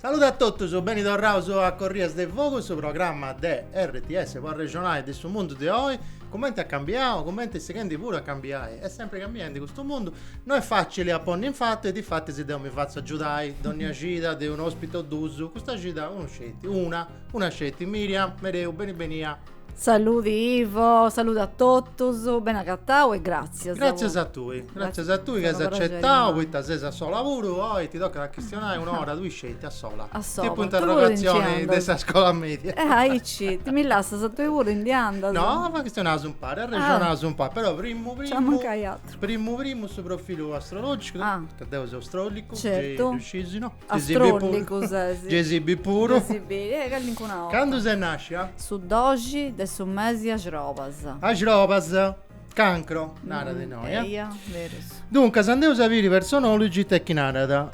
Saludu a totus, beni torraus a Corrias de Fogu, su programma de RTS pro arrexonai de su mundu de oi, cumenti at cambiau, cumenti est sighendi puru a cambiai, est sempri cambiendi custu mundu, no est facili a ponni in fatu e difatis deu mi fatzu agiudai, donnia cida de un'ospiti o duus, custa cida unu sceti, una, una sceti, Myriam Mereu, beni benia. Saludi Ivo, saludu a totus, beni agatau e gratzias. Gratzias a tui, gratzias a tui chi as acetau poita ses a sola puru, oi ti tocat a chistionai un'ora, tui sceti a sola. A sola. Tipu interrogatzioni de sa scola media. Eh aici, mi lassas a tui puru, ndi andas? No, chistionaus impari, arrexonaus impari, però primu primu. Nc'at mancai aturu. Primu primu su profilu astrologicu, ca deu seu astrolicu, gei ddu scis, no? Astròlicu ses. Gesibi puru. Gesibi, eh, callincuna 'orta. Candu ses nàscia? Su doxi de su mesi 'e axrobas. Axrobas, cancro, narat innoi, eh. Eia, berus. Duncas, andeus a biri personology it'est chi narat.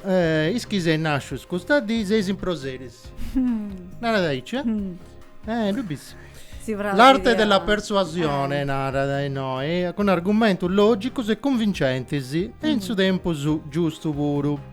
Is chi seis nàscius custa dì seis improseris. Narat aici, eh. Eh, ddu bis. Si praxit a. L'arte della persuasione, narat innoi, cun argumentus lògicus e cunvincentis e in su tempus giustu puru.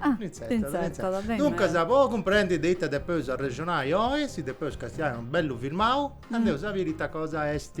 Ah, t'intzertat, beni. Duncas, po cumprendi de ita depeus arrexonai oi, si depeus castiai unu bellu filmau, andeus a biri ita cosa est.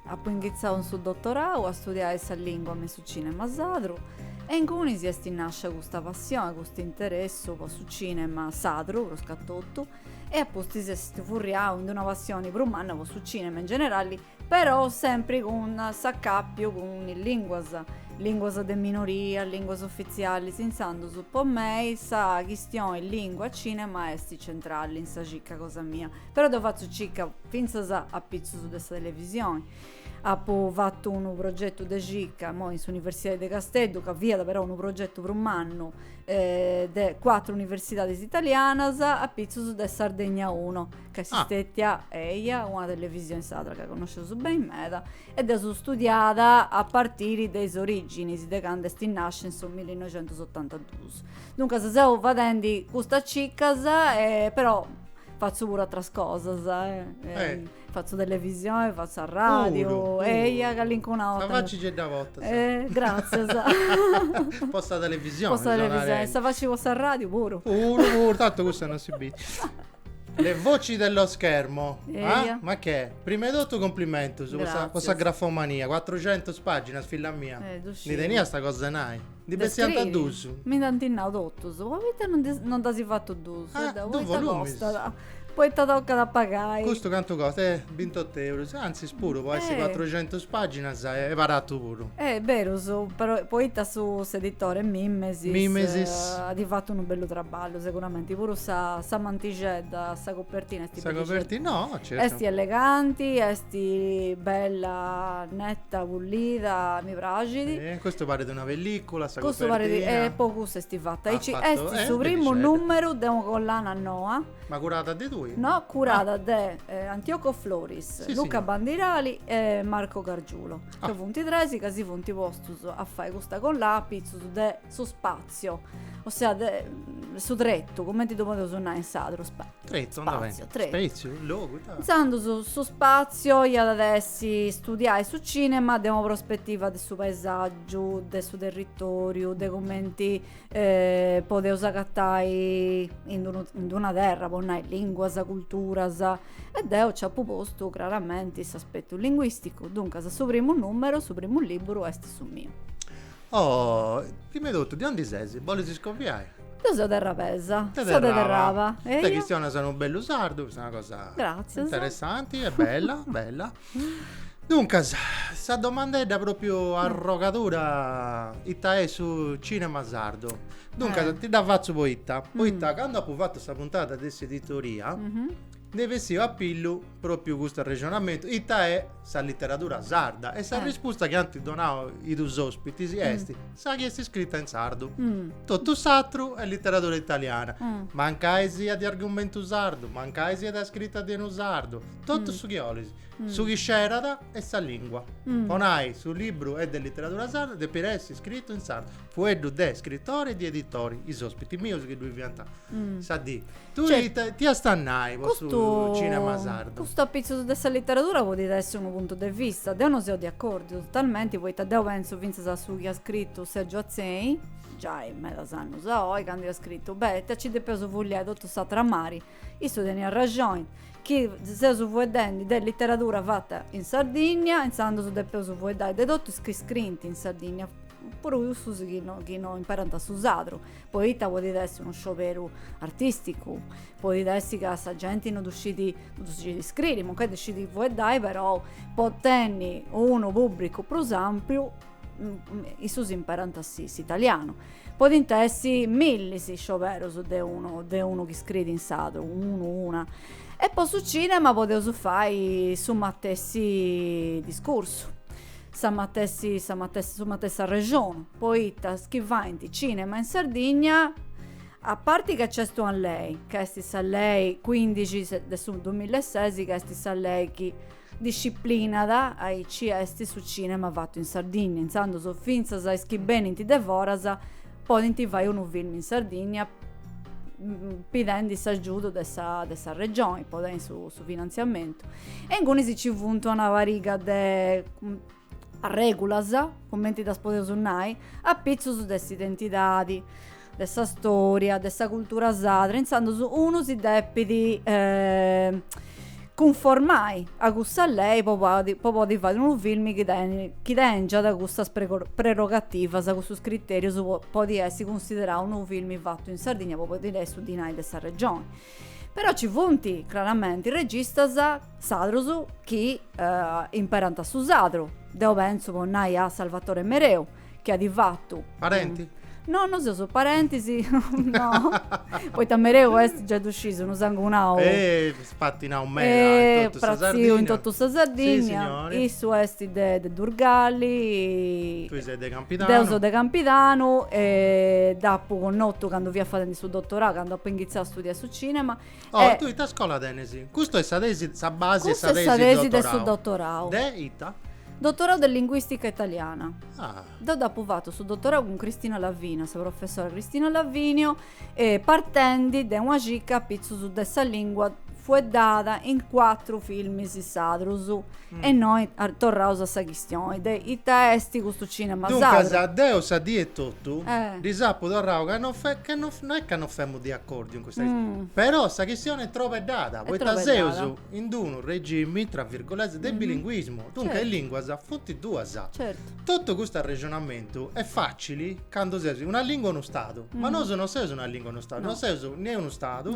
Apu inghitzau in su dotorau a studiai sa lingua me su cinema sadru e ingunis esti nascia custa passioni, custu interessu po su cinema sadru prus ca totu e apustis esti furriau in d'una passioni prus manna po su cinema in generali però sempri cun s'acapiu cun is linguas, linguas de minoria, linguas ufitzialis, intzandus po mei sa chistioni lingua cinema esti centrali in sa cicca cosa mia. però deu fatzu cicca fintzas apitzus de sa televisioni, apu fatu unu progetu de cicca imoi in s'Universidadi de Casteddu ca fiat però unu progetu prus mannu de cuatru universidadis italianas apitzus de Sardegna Uno ca est stetia eia una televisioni sadra ca connosceus beni meda e dd'eus studiada a partiri de is originis de candu est nasciu in su millinoixentusotantaduus. Duncas seu fadendi custas ciccas però Fatzu puru atras cosas, eh. Fatzu televisioni, fatzu arradiu. Puru, puru. Eia, callincuna 'orta. Sa faci gei dda portas. Eh, gratzias. Po sa televisioni. Po sa televisioni. Sa faci po s'arradiu puru. Puru, puru. Tantu cussa non si bit. Le voci dello schermo. Eia. Ma che? Prima 'e totu cumplimentus po sa, po sa grafomania. Cuatrucentus paginas, filla mia. Eh, ddu sciu. Ndi teniasta cosa 'e nai. Ndi De bessiant scriri. dus. Mi dd'ant nau totus, poita non ndi- non nd'as fatu dus? Ah, Deu, dus poita volumis. costat? Poita tocat a pagai. Custu cantu costat? Eh, bintottu eurus. Antzis puru, po essi Eh. cuatruxentus paginas, est baratu puru. Est berus, però poita su s'editore Mimesis Mimesis. at fatu unu bellu traballu seguramenti, puru sa sa mantixedda, sa copertina esti Sa bellixedda. coperti- no, certu. Esti eleganti, esti bella, neta Pulida mi praxit. Custu parit una pellicula sa copertina. E po cussu esti fata. Aici est su primu numeru de una collana noa. Ma curada de tui? No, curada de Antioco Floris, Luca Bandirali e Marco Gargiulo. Ca funt tres ca si funt postus a fai custa collana apitzus de su spatziu. Spazio, ossia de, su tretu, cumenti ddu podeus nai in sadru? Spa, tretu, spazio, tretu. Spaziu, logu, ita? Intzandus su spazio iat a essi studiai su cinema de una prospetiva de su paesaggiu, de su territoriu, de cumenti eh, podeus agatai in d'unu, in d'una terra, po nai, linguas, culturas. E deu nci apu postu craramenti s'aspetu linguisticu, duncas su primu numeru, su primu liburu est su miu. Oh, prima 'e totu, de undi ses? Bolis scoviai? Deu seu terrabesa. Seu de Terraba. Terraba. Ite chistionas unu bellu sardu, custa est una cosa. Gratzias. Interessanti e bella, bella. Duncas, sa domandedda propriu arrogadura ita est su cinema sardu. Duncas, ti dda fatzu poita, poita candu apu fatu sa puntata de s'editoria, Nd'est bessiu a pillu propriu custu arrexonamentu, ita est sa literadura sarda? E sa rispusta chi ant donau is dus ospitis est, sa chi est iscrita in sardu. Totu s'atru est literadura italiana, mancai siat de argumentu sardu, mancai siat iscrita de unu sardu, totu su chi 'olis. Su chi scerat est sa lingua. Po nai, su libru est de literadura sarda, depit essi iscritu in sardu. Fueddu de scritori e di editori, is ospiti mius chi ddu fiant sa dì. Tui ita iast a nai po su cinema sardu? Custu apitzus de sa literadura podit essi unu puntu de vista. Deu non seu de acordiu, totalmenti, poita deu pentzu fintzas a su chi at scritu Sergio Atzeni, giai medas annus a oi, candu iat scritu, beh, ita nci depeus fuliai totu s'atru a mari, issu teniat rexoni, chi seus fueddendi de literadura fata in Sardinnia, intzandus depeus fueddai de totu is chi scriint in Sardinnia. puru cussus chi no chi no imperant su sadru, poita podit essi unu scioberu artisticu, podit essi ca sa genti no ddu scit no ddu scit iscriri, mancai ddu scit fueddai, perou po tenni unu pubbricu prus ampiu issus imperant s'italianu, podint essi millis is scioberus de unu de unu chi iscrit in sadru, unu, una, e po su cinema podeus fai su matessi discursu sa matessi, sa matessi, su matessi arrexonu, poita is chi faint cinema in Sardigna, a parti ca nc'est una lei, ca est sa lei cuindixi de su dumilla e sesi, ca est sa lei chi disciplinat aici est su cinema fatu in Sardigna, intzandus fintzas is chi benint de foras podint fai unu film in Sardinnia pidendi s'agiudu de sa de sa regioni po tenni su su finantziamentu e ingunis nci funt una pariga de arregulas cumenti ddas podeus nai apitzus de s'identidadi de sa storia de sa cultura sadra intzandus unu si depit cunformai a custa lei po podi fai unu film chi chi tengiat custas prerogativas, custus criterius po podi essi cunsiderau unu film fatu in Sardigna po podi leai su dinai de sa regioni. Però ci funt craramenti registas sadrus chi imperant su sadru, deu pentzu po nai a Salvatore Mereu, Chi at fatu. Parenti? No, no seus parentis, no, poita mereu est giai ddu sciis, unu sangunau. Eh, spatinau meda in totu sa Sardigna. Pratziu in totu sa Sardigna. Si, signori. Issu est de de Durgali. Tui ses de Campidanu. Deu seu de Campidanu e dd'apu connotu candu fia fadendi su dotorau, candu apu inghitzau a studiai su cinema Oh, e tui ita scola tenes? Custu est sa tesi, sa basi de sa tesi de dottorau. Custu est sa tesi de su dottorau. De ita? Dottorau de linguistica italiana. Ah. Deu dd'apu fatu su dottorau cun Cristina Lavinio, sa professora Cristina Lavinio, e partendi de una circa apitzus de sa lingua fueddada in cuatru filmis sadrus. E noi torraus a sa chistioni de ita esti custu cinema sadru. Duncas, deu sa dì etotu ddis apu torrau ca no, no est ca no femu de acordiu in custa chistioni, però sa chistioni est trobeddada, poita seus in d'unu regimi, tra virgolette, de bilinguismu, duncas is linguas funt duas. Totu custu arrexonamentu est facili Candu ses una lìngua unu Stadu, ma nosu non seus una lìngua unu Stadu, non seus ne unu Stadu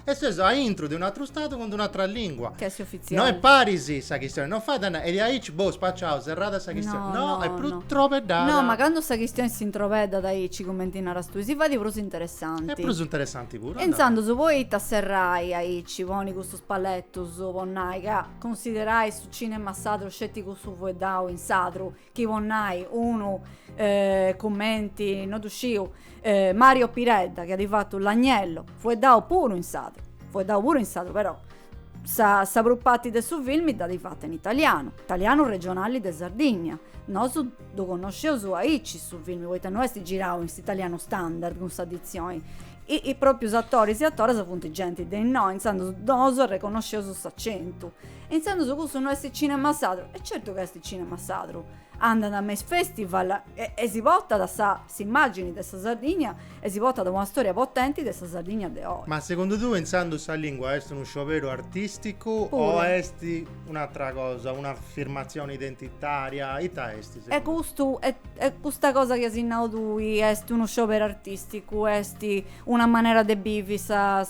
e seus a intro de un'atru Stadu cun d'un'atra lìngua. Ca est ofitziali. No est paris sa chistioni, non fait a nai, e diaici boh spaciau, serrada sa chistioni, no, est prus trobeddada. No, ma candu sa chistioni s'introbeddat aici cumenti naras tui, si fait prus interessanti. Est prus interessanti puru. E intzandus poita a serrai aici, ponni custus paletus po nai ca cunsiderai su cinema sadru sceti cussu fueddau in sadru, chi po nai unu cumenti no ddu sciu Mario Piredda chi at fatu L'agnello, fueddau puru in sadru, fueddau puru in sadru però sa sa prus parti de su filmi dd'at fatu in italianu, italianu regionali de Sardigna, nosu ddu connosceus aici su filmi poita no est girau in s'italianu standard cun sa ditzioni propriu is atoris e atoras funt genti de innoi intzandus nosu arreconnosceus s'acentu E intzandus cussu no est cinema sadru? E certu ca est cinema sadru, andant a mes festival e si portat a sa s'immagini de sa Sardigna e si portat una storia potenti de sa Sardigna de oi. Ma segundu tue intzandus sa lingua est unu scioberu artisticu o est un'atra cosa, un'afirmatzioni identitaria, ita est segundu tue? E custu e custa cosa chi as nau tui est unu scioberu artisticu, est una manera de bivi sa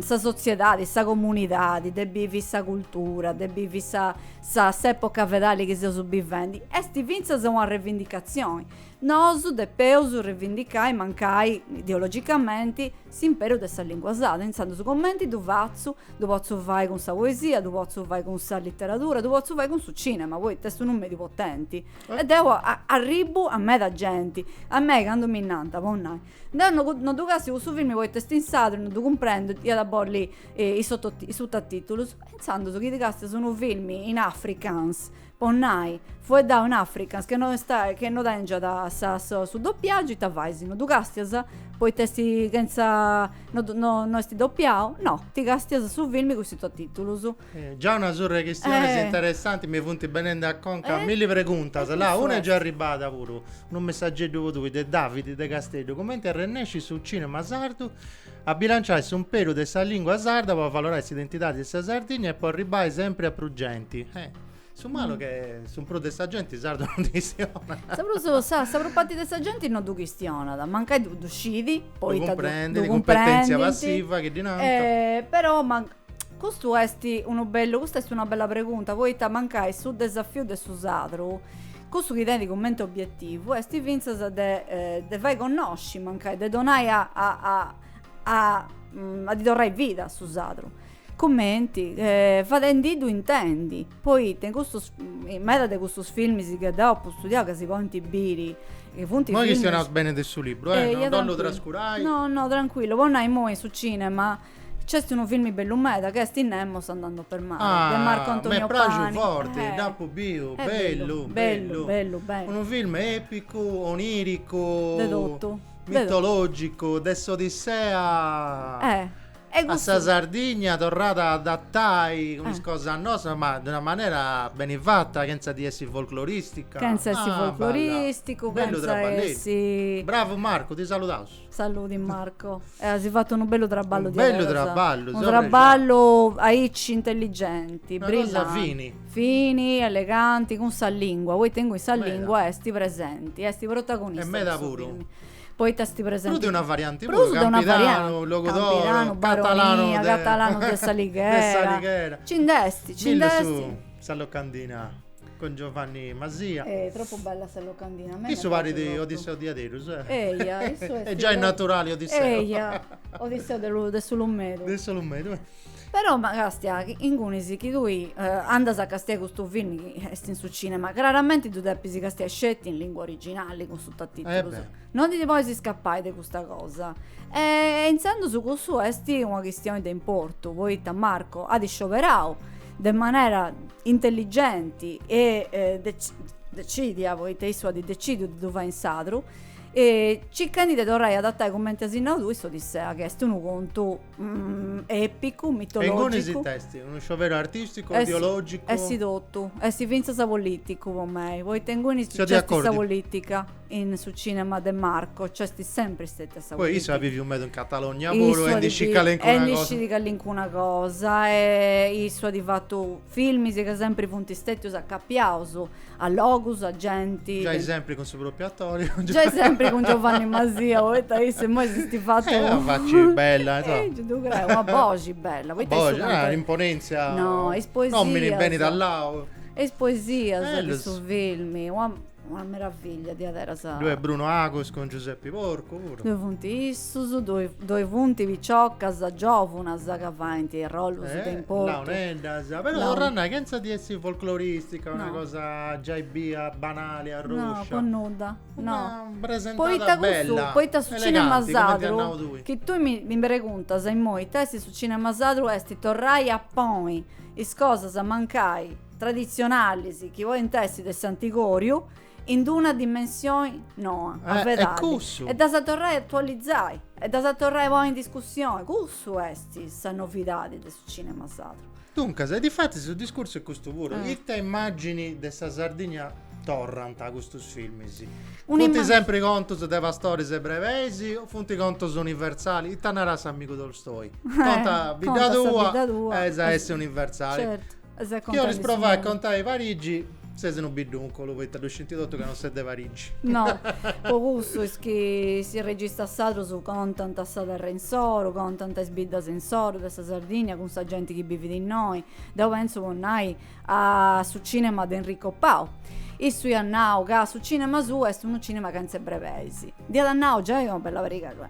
sa sotziedadi, sa comunidadi, de bivi sa cultura, de bivi sa sa s'epoca fedali chi seus bivendi, esti fintzas una revindicatzioni. Nosu depeus revindicai, mancai ideologicamenti, s'imperu de sa lingua sarda, intzandus cumenti ddu fatzu, ddu potzu fai cun sa poesia, ddu potzu fai cun sa literadura, ddu potzu fai cun su cinema, poita est unu mediu potenti. E deu arribbu a meda genti. A mei candu mi nant, po nai, Deu no no ddu castiu cussu filmi poita est in sardu e no ddu cumprendu, ia a bolli is sototi is sutatitulus, intzandus chi ti castias unu filmi in africans, po nai, fueddau in africans chi no est chi no tengiat sa sa su dopiagiu ita fais, no ddu castias poita est chentza no no no est dopiau, no, ti castias su filmi cun is sutatitulus Già una surra 'e chistiones eh. interessanti mi funt benende a conca eh. milli preguntas. Eh, là, una est già arribada puru, unu messaggeddu po tui de Davidi de Casteddu. Comenti arrennescit su cinema sardu a bilanciai s'umperu de sa lingua sarda po avalorai s'identidadi de sa Sardigna e po arribbai sempri a prus genti? Eh. Su malu est chi su prus de sa genti sardu non chistionat. Sa prus, sa, sa prus parti de sa genti non du chistionat, mancai du, du scidi, poita du, du cumprendit, cumpetèntzia passiva chi ddi nanta. Eh, però man, Custu est unu bellu, custa est una bella pregunta, poita mancai su desafiu de su sadru, cussu chi tenit cumenti obietivu, est fintzas de eh, de fai connosci, mancai, de donai a, a, a, a, mm, a ddi torrai vida a su sadru. Cumenti? Eh, fadendiddu intendi, poita in custus, in meda de custus filmis chi deu apu studiau, ca si podint biri, chi funt filmis... Imoi chistionaus beni de su libru, eh, Eia, no, no ddu trancu- trascurai. No, no, trancuillu, po nai, imoi in su cinema, C'est unu filmi bellu meda chi est Nemos andando per mare ah, de Marco Antonio Pani. Mi praxu forti, eh. dd'apu biu, eh, bellu, bellu, bellu, bellu, Unu film epicu, oniricu, de totu, mitologicu, de s'Odissea. Eh. E a sa Sardigna torrada a adatai cun eh. is cosas nossas, ma de una manera beni fata, chentza di essi folcloristica. Chentza essi ah, folcloristicu, bellu chentza essi. Bravu Marcu, ti saludaus. Saludi Marco, eh, as fatu unu bellu traballu di bellu traballu, unu traballu aici intelligenti, brillanti, Una cosa fini. fini, eleganti, cun sa lingua, poita inguni sa Meda. lingua est presenti, est protagonista. E meda de su puru. filmi. Poita est presenti. Prus de una varianti Prus puru, de una varianti, campidanu, Logudoro, campidanu, catalanu baronia, de catalanu de s'Alighera. de s'Alighera. Ci nd'est, ci Millu nd'est. su sa locandina. cun Giovanni Masia. Eh, troppu bella sa locandina. Mene Issu parit pagu lottu. Odisseu diaderus, eh. Eia, issu est. Est giai pro- naturali Odisseu. Eia, Odisseu de lu- de s'Ulumedu. De s'Ulumedu, eh. Però ma castia, ingunis chi tui andas a castiai custu film chi est in su cinema, craramenti ddu depis castiai sceti in lingua originali cun sutatitulus. Eh beh. Non ti ndi podis iscapai de custa cosa. E intzandus cussu est una chistioni de importu, poita Marco at scioberau de manera intelligenti e decidia, poita issu at decidiu de ddu fai in sardu, circhendi de torrai a adattai cumenti as nau tui s'Odissea chi est unu contu epicu, mitologicu. E ingunis ddoi est unu scioberu artisticu, ideologicu. Est totu, est fintzas politicu po mei, poita ingunis nc'est sa politica. in su cinema de Marco c'est sempri stetia sa Poi issu at viviu meda in Catalogna puru e ndi scit calincuna cosa. E ndi scit calincuna cosa e issu at fatu filmis ca sempri funt stetius acapiaus a logus, a genti. Giai sempri cun su propriu attori. Giai sempri cun Giovanni Masia poita issu immoi s'est fatu. Est una faci bella insoma. Ehi ddu creu, una boxi bella. Una boxi, ah imponentzia. No is poesias. No mi benit allau. E is poesias de su filmi. Una meravillia diaderas. Ddoi est Bruno Agus cun Giuseppi Porcu puru. Ddoi funt issus, ddoi ddoi funt piciocas giòvunas ca faint arrollus de importu. Launeddas, però torru a nai chentza de essi folcloristica, una cosa giai bia banali, arròscia. No, po nudda. Una presentada bella, eleganti, cumenti as nau tui. Poita su cinema sardu, chi tui mi mi preguntas immoi ita est su cinema sardu est torrai a ponni is cosas mancai traditzionalis chi podint essi de s'antigòriu in d-una dimensioni noa, a vedadi, e ddas torrai a atualizai, e ddas torrai a ponni in discussioni, cussu est sa novidadi de su cinema sardu. Duncas, e difatis su discursu est custu puru, ita immàgini de sa Sardigna torrant custus filmis? Funt sempri contus de pastoris e brebeis o funt contus universalis? Ita narat s'amigu Tolstoi? Conta sa bidda tua e as a essi universali. Chi 'olis provai a contai Parigi? ses unu biddunculu poita ddu scinti totu ca non ses de Parigi. No, po cussu is chi is registas sardos contant sa terra insoru, contant is biddas insoru de sa Sardinnia cun sa genti chi bivit innoi. Deu pentzu po nai a su cinema de Enrico Pau. Issu iat nau ca su cinema suu est unu cinema chentze brebeis. Dd'iat nau giai una bella pariga de,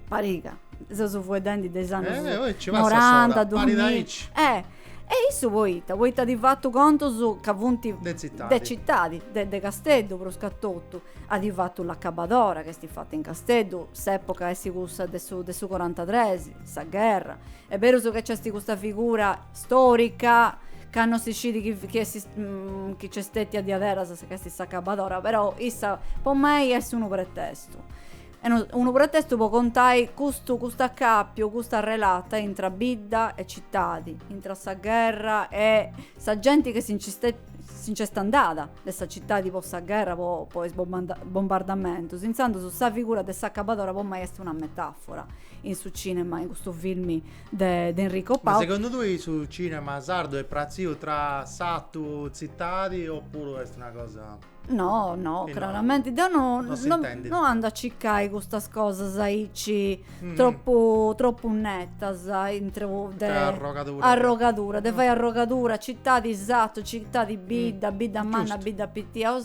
pariga, seus fueddendi de is annus noranta, duamilla. Eh! E issu poita? Poita adi fatu contus ca funt. De tzitadi. De tzitadi, de de Casteddu pruscatotu. Adi fatu l'acabadora ca esti fata in Casteddu, s'epoca esti cussa de su de su corantatres, sa gherra. E' berus ca nc'esti custa figura storica ca no si scidi chi chi esti chi nc'est stetia diaderasa ca esti s'acabadora, però issa po mei est unu pretestu. Unu pretestu po contai custu cust'acàpiu, custa relata intra bidda e citadi, intra sa gherra e sa genti che si nci si nc'est andada de sa citadi po sa gherra, po is bombardamentus. Intzandus sa figura de s'acabadora po mei est una metàfora in su cinema, in custu filmi de de Enrico Pau. Ma segundu tui su cinema sardu est pratziu tra s'atu, tzitadi, opuru est una cosa. No, no, e claramente. No, no, no, no, no ando a circare queste cose aici mm. troppo, troppo nettas intro de arrogadura. arrogadura. De mm. fai arrogadura, città di esatto, città di bidda, mm. bidda manna, bidda pittia.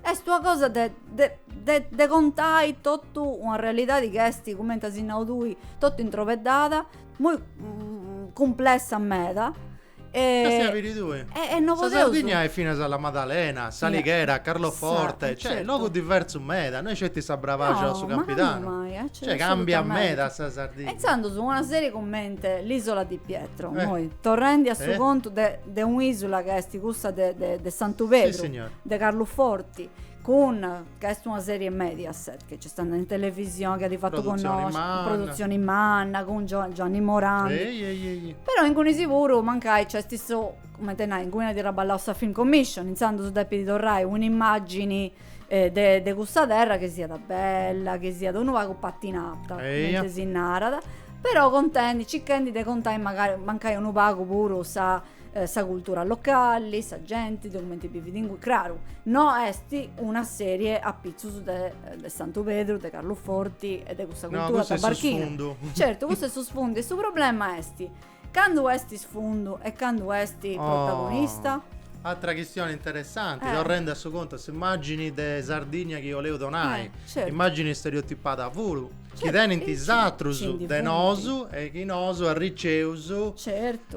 È una cosa de, de, de, de contai tutta una realtà di questi, come si nau tui, tutta introveddata, molto mm, complessa meda Sa Sardigna est finas a La Madalena, S'Alighera, Carloforte, cioè logus diversus meda, no est sceti sa Brabaxa o su Campidanu, cioè cambiat meda sa Sardigna. E intzandus una serie cumenti l'Isola di Pietro, imoi torrendi a su contu de un'isula ca est cussa de Santu Pedru, de Carluforti, cun ca est una serie Mediaset che nc'est andada in televisioni chi at fatu Dda connòsciu. produtzioni manna cun Gio- Gianni Morandi Ehi, ehi, ehi. però ingunis puru mancai nc'est su cumenti nai inguni at traballau sa Film Commission intzandus depit torrai una immagini eh de de cussa terra chi siat bella chi siat unu pagu patinata Eia. cumenti si narat però contendi, circhendi de contai magai mancai unu pagu puru sa sa cultura locali, sa genti, de cumenti bivit inguni, craru, no est una serie a pitzus de de Santu Pedru, de Carluforti e de cussa cultura tabarchina. Certu, cussu est su sfundu e su problema est candu est sfundu e candu est protagonista? Oh, atra chistioni interessanti, Eh. torrendi a su contu, a s'immagini de Sardigna chi 'oleu donai, Eh, certu. immagini stereotipada puru. chi tenint is atrus de nosu e chi nosu arriceus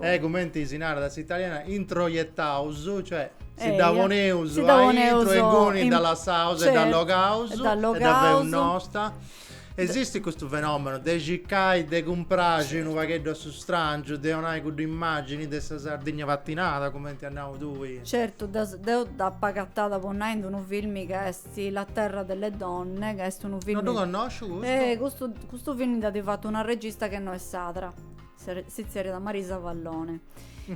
e cumenti si narat a s'italiana introjettaus, cioè si dda poneus aintru e inguni dda lassaus e dda allogaus e dda feus nosta. Esistit custu fenomenu de circai de cumpraxi unu pagheddu a su strangiu, de 'onai cudda immagini de sa Sardigna patinada cumenti as nau tui? Certu, deu dd'apu agatada po nai in unu filmi ca est Si la terra delle donne, ca est unu film. No ddu connosciu custu. Eh, custu, custu film dd'at fatu una regista chi no est sadra. Si tzerriat Marisa Vallone.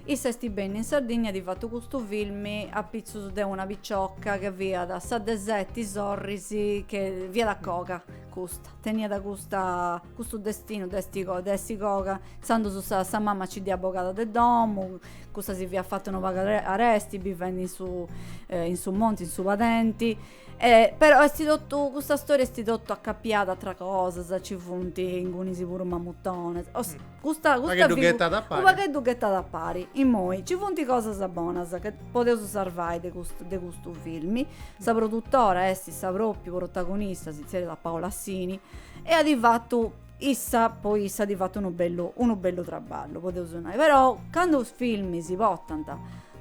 Issa esti benni in Sardigna e at fatu custu film a pitzus de una picioca che fiat sa de seti sorris che fiat coga custa, teniat custa Custu destinu de essi de essi coga tandus sa sa mama ci dd'iat bogada de domu cussa si fiat fata unu pagu aresti bivendi in su in su monti in su padenti e però esti totu custa storia esti totu acappiada a atras cosas ci funt ingunis puru mamutones est custa unu pagheddu ghettada a pari unu pagheddu ghettada a pari immoi ci funt cosas bonas ca podeus sarvai de custu de custu filmi sa produtora esti sa propriu protagonista si zerriat Paola Sini e at fatu issa po issa at fatu unu bellu unu bellu traballu podeus nai però candu is filmi si portant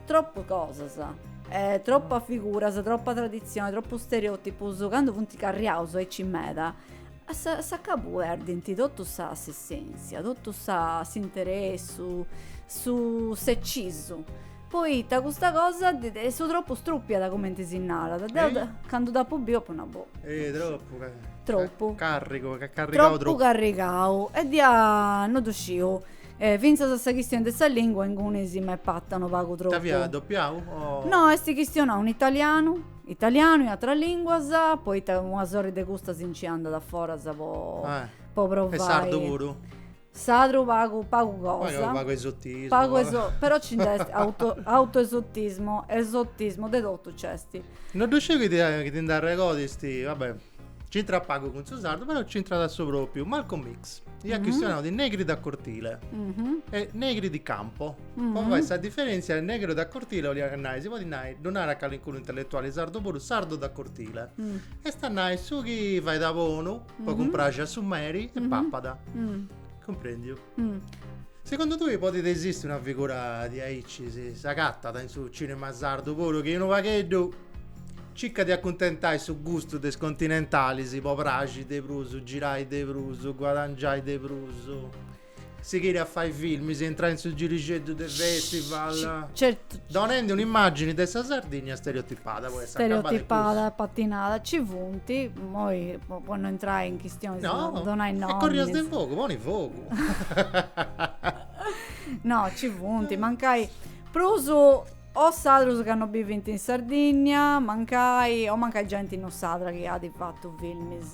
tropu cosas e tropas figuras tropu traditzioni tropus stereotipus candu funt carriaus aici meda a sa a s'acabu perdint totu sa s'essentzia totu sa s'interessu su s'ecisu Poita custa cosa de de su tropu strùpiat cumenti si narat. Deu de candu dd'apu biu apu nau boh. Eh tropu ca. Tropu. Carrigu, ca carrigau tropu. Tropu carrigau. E ddia no ddu sciu. E fintzas a sa chistioni de sa lingua ingunis m'est parta unu pagu tropu. Ita fiat doppiau o. No est chistionau in italianu, italianu e atras linguas, poita una sorri de custas nci andat foras po. Eh. Po provai. E sardu puru? Sadru pagu pagu cosa. Pagu esotismu. Pagu eso però ci nd'est auto autoesotismo, esotismo, de totu nc'est. No ddu sciu chi ti chi ti nd'arregodas tui, va bè. C'intrat pagu cun su sardu, però c'intrat a su propriu. Malcolm X iat chistionau de negri da cortile e negri di campo. Po fai sa diferentzia, negru da cortile 'oliat nai, si podit nai, ddu narat calincunu intelletuali sardu puru, sardu da cortile. Est a nai su chi fait a bonu po cumpraxi a su meri e papat. Cumprendiu? Segundu tui podit esisti una figura diaici, si s'agatat in su cinema sardu puru chi unu pagheddu circat de acuntentai su gustu de is continentalis po praxi de prus, girai de prus, guadangiai de prus? Sighiri a fai filmis e intrai in su girixeddu de festival. Certu. Donendi un'immagini de sa Sardigna stereotipada. Stereotipada, patinada, ci funt, moi po no intrai in chistionis no, de donai nomis. No, corrias de fogu, poni fogu. no, ci funt, mancai prus o sadrus ca no bivint in Sardigna, mancai, o mancai genti no sadra chi at fatu filmis.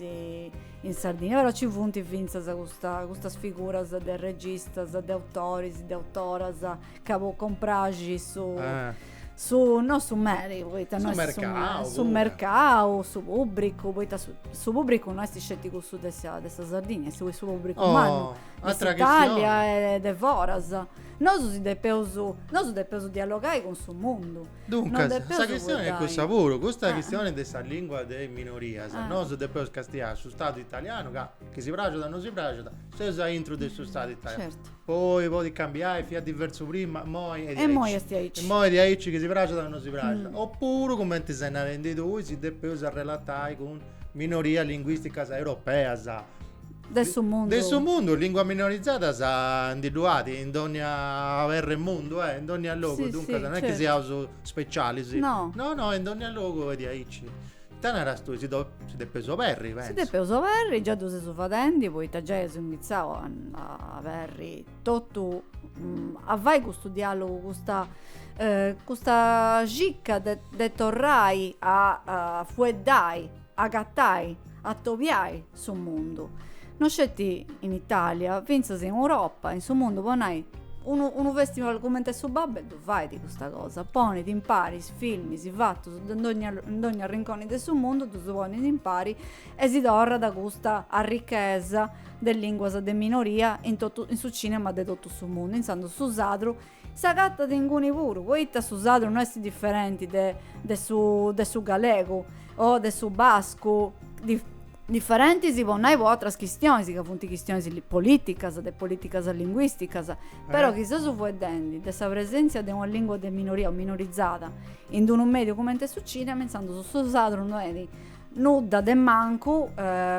in Sardigna, però ci funt fintzas custa, custas figuras de registas, de autoris, de autoras, ca po cumpraxi su... Eh su, no su meri, poita no est su mercau, su mercau, su pubbricu, poita su, su pubbricu no est sceti cussu de sa, de sa Sardigna, est su pubbricu oh, mannu, de s'Italia e de foras. Nosu si depeus, nosu depeus dialogai cun su mundu. Duncas, sa chistioni est cussa puru, custa chistioni de sa lingua de is minorias, nosu depeus castiai su Stadu italianu ca, chi si praxit o no si praxit, seus a intru de su Stadu italianu, poi podit cambiai, fiat diversu prima, imoi est diaici, imoi est diaici chi si praxit o no si praxit, opuru cumenti ses narendi tui si depeus arrelatai cun minorias linguisticas europeas, De su mundu. De su mundu, lìnguas minorizadas ndi ddu at in dònnia perra 'e mundu, eh, in dònnia logu, duncas non est chi siaus specialis. No. No no, in dònnia logu est diaici. Ita naras tui, si si depeus oberri, pentzu. Si depeus oberri, già ddu seus fadendi poita giai eus inghitzau a aberri totu, a fai custu dialogu, custa custa cicca de torrai a fueddai Agattai, atobiai su mundu. No sceti in Italia, fintzas in Europa, in su mundu, po nai, unu unu festival cumenti est su Babel ddu fait custa cosa, ponit impari is filmis fatus de dogna in dogna arrinconi de su mundu, ddus ponit impari e si torrat custa arrichesa de linguas de minoria in totu in su cinema de totu su mundu, intzandus su sadru S'agatat inguni puru, poita su sadru no est diferenti de de su de su galegu o de su bascu, dif diferenti si po nai po atras chistionis ca funt chistionis li politicas, de politicas linguisticas, però chi seus fueddendi de sa presentzia de una lingua de minoria o minorizada in d'unu mediu cumenti est su cinema, intzandus su sadru no est nudda de mancu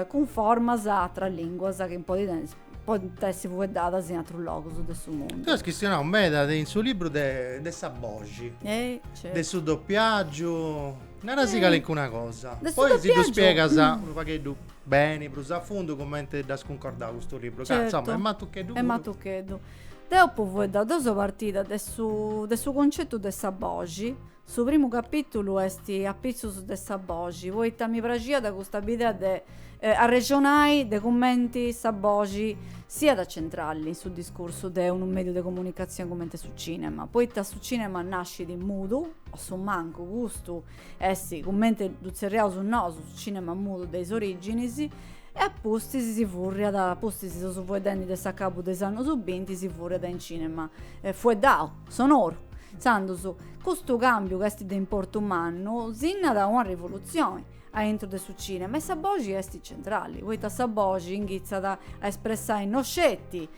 cunformas a atras linguas chi in podi tenni. podint essi fueddadas in atrus logus de su mundu. Tui as chistionau meda de in su libru de de sa boxi, Eh, certu. de su dopiagiu, narasi calincuna cosa, De su poi si ddu spiegas dopiagiu. unu pagheddu beni, prus a fundu, cumenti dd'as cuncordau custu libru, ca insoma Certu, est matucheddu est puru. matucheddu. Deu apu fueddau deu seu partida de su de su concetu de sa boxi, Su primu capìtulu est Apitzus de sa boxi, poita mi praxiat custa bidea de arrexonai de cumenti sa boxi siat centrali in su discursu de unu mèdiu de comunicatzioni cumenti su cìnema, poita su cìnema nascit mudu, a su mancu custu est cumenti ddu tzerriaus nosu, su cìnema mudu de is orìginis, e a pustis si furriat, a pustis de seus fueddendi de s'acabu de is annus binti si furriat in cìnema fueddau. sonoru. Intzandus, custu càmbiu chi est de importu mannu, sinnat una rivolutzioni a intro de su cìnema e sa boxi est centrali, poita sa boxi inghitzat a espressai no sceti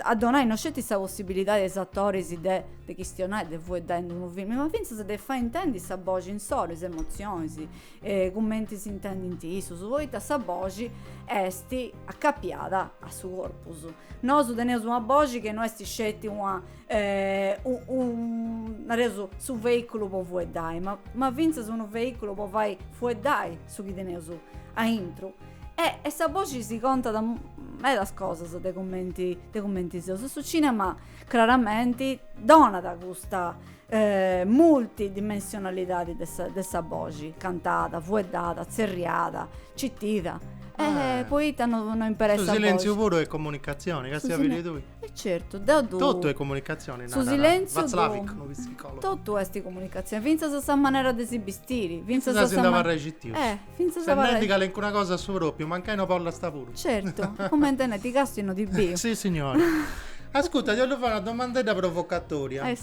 a donai no sceti sa possibilidadi a is atoris de chistionai, de fueddai in unu filmi, ma fintzas de fai intendi sa boxi insoru, is emotzionis, cumenti s'intendint issus, poita sa boxi est acapiada a su corpus. Nosu teneus una boxi chi no est sceti una nareus su veiculu po fueddai, ma fintzas unu veiculu po fai fueddai su chi teneus aintru. E e sa boxi si contat medas cosas de cumenti de cumenti seus. E su cinema craramenti donat custa multidimensionalidadi de sa boxi, cantada, fueddada, tzerriada, citida, e poita no imperas sa boxi. Su silèntziu puru est comunicatzioni, càstia, bidi tui. E certu, deu ddu. Totu est comunicatzioni narat. Su silèntziu. Watzlawick, unu psicologu. Totu est comunicatzioni, fintzas sa manera de si bistiri, fintzas sa. Fintzas innanti de abarrai citius. Fintzas a abarrai. Ses nendi calincuna cosa a su propriu, mancai no bollas puru. Certu, comenti nendi ti càstiu no ti biu. Si signori. Ascurta, ti ollu fai una domandedda provocatoria. Eh.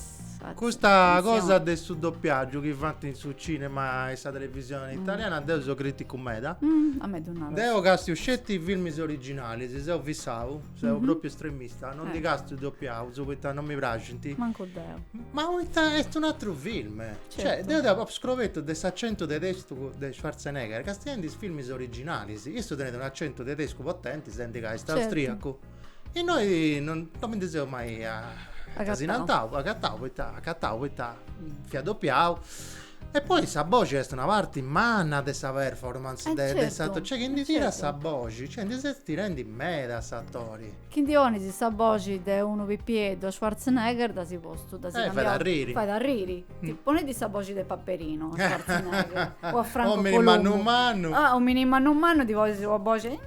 Custa cosa de su doppiagiu chi fant in su cinema e sa televisione mm. italiana, deu seu criticu meda. Mm, a mei ddu nas. Deu castiu sceti filmis originalis, seu fissau. Seu mhm. proprio estremista, non eh. ddus càstiu doppiaus poita non mi praxint. Manco deu. Ma poita est un atru film. Cioè, certo. Cioè, deu apu scobertu s'accento tedesco de Schwarzenegger, castiendi is films originalis. Issu tenit un accento tedesco potente, s'intendit ca est certo. austriaco. E innoi non, non mi ndi seu mai a... Acatau. Asinantau, acatau, poita, acatau, poita fiat doppiau. E poi sa boxi est una parti manna de sa performance eh de, de s'atori, cioè chi ndi tiras sa boxi, cioè ndi ses tirendi meda a s'atori. Chi ddi ponis sa boxi de unu pipieddu a Schwarzenegger dd'as postu, dd'as cambiau. Eh fait arriri. Fait arriri. Poni-ddi sa boxi de Paperino a Schwarzenegger o a Franco Columbu. Omini mannu mannu. Ah, omini mannu mannu ddi ponis una boxi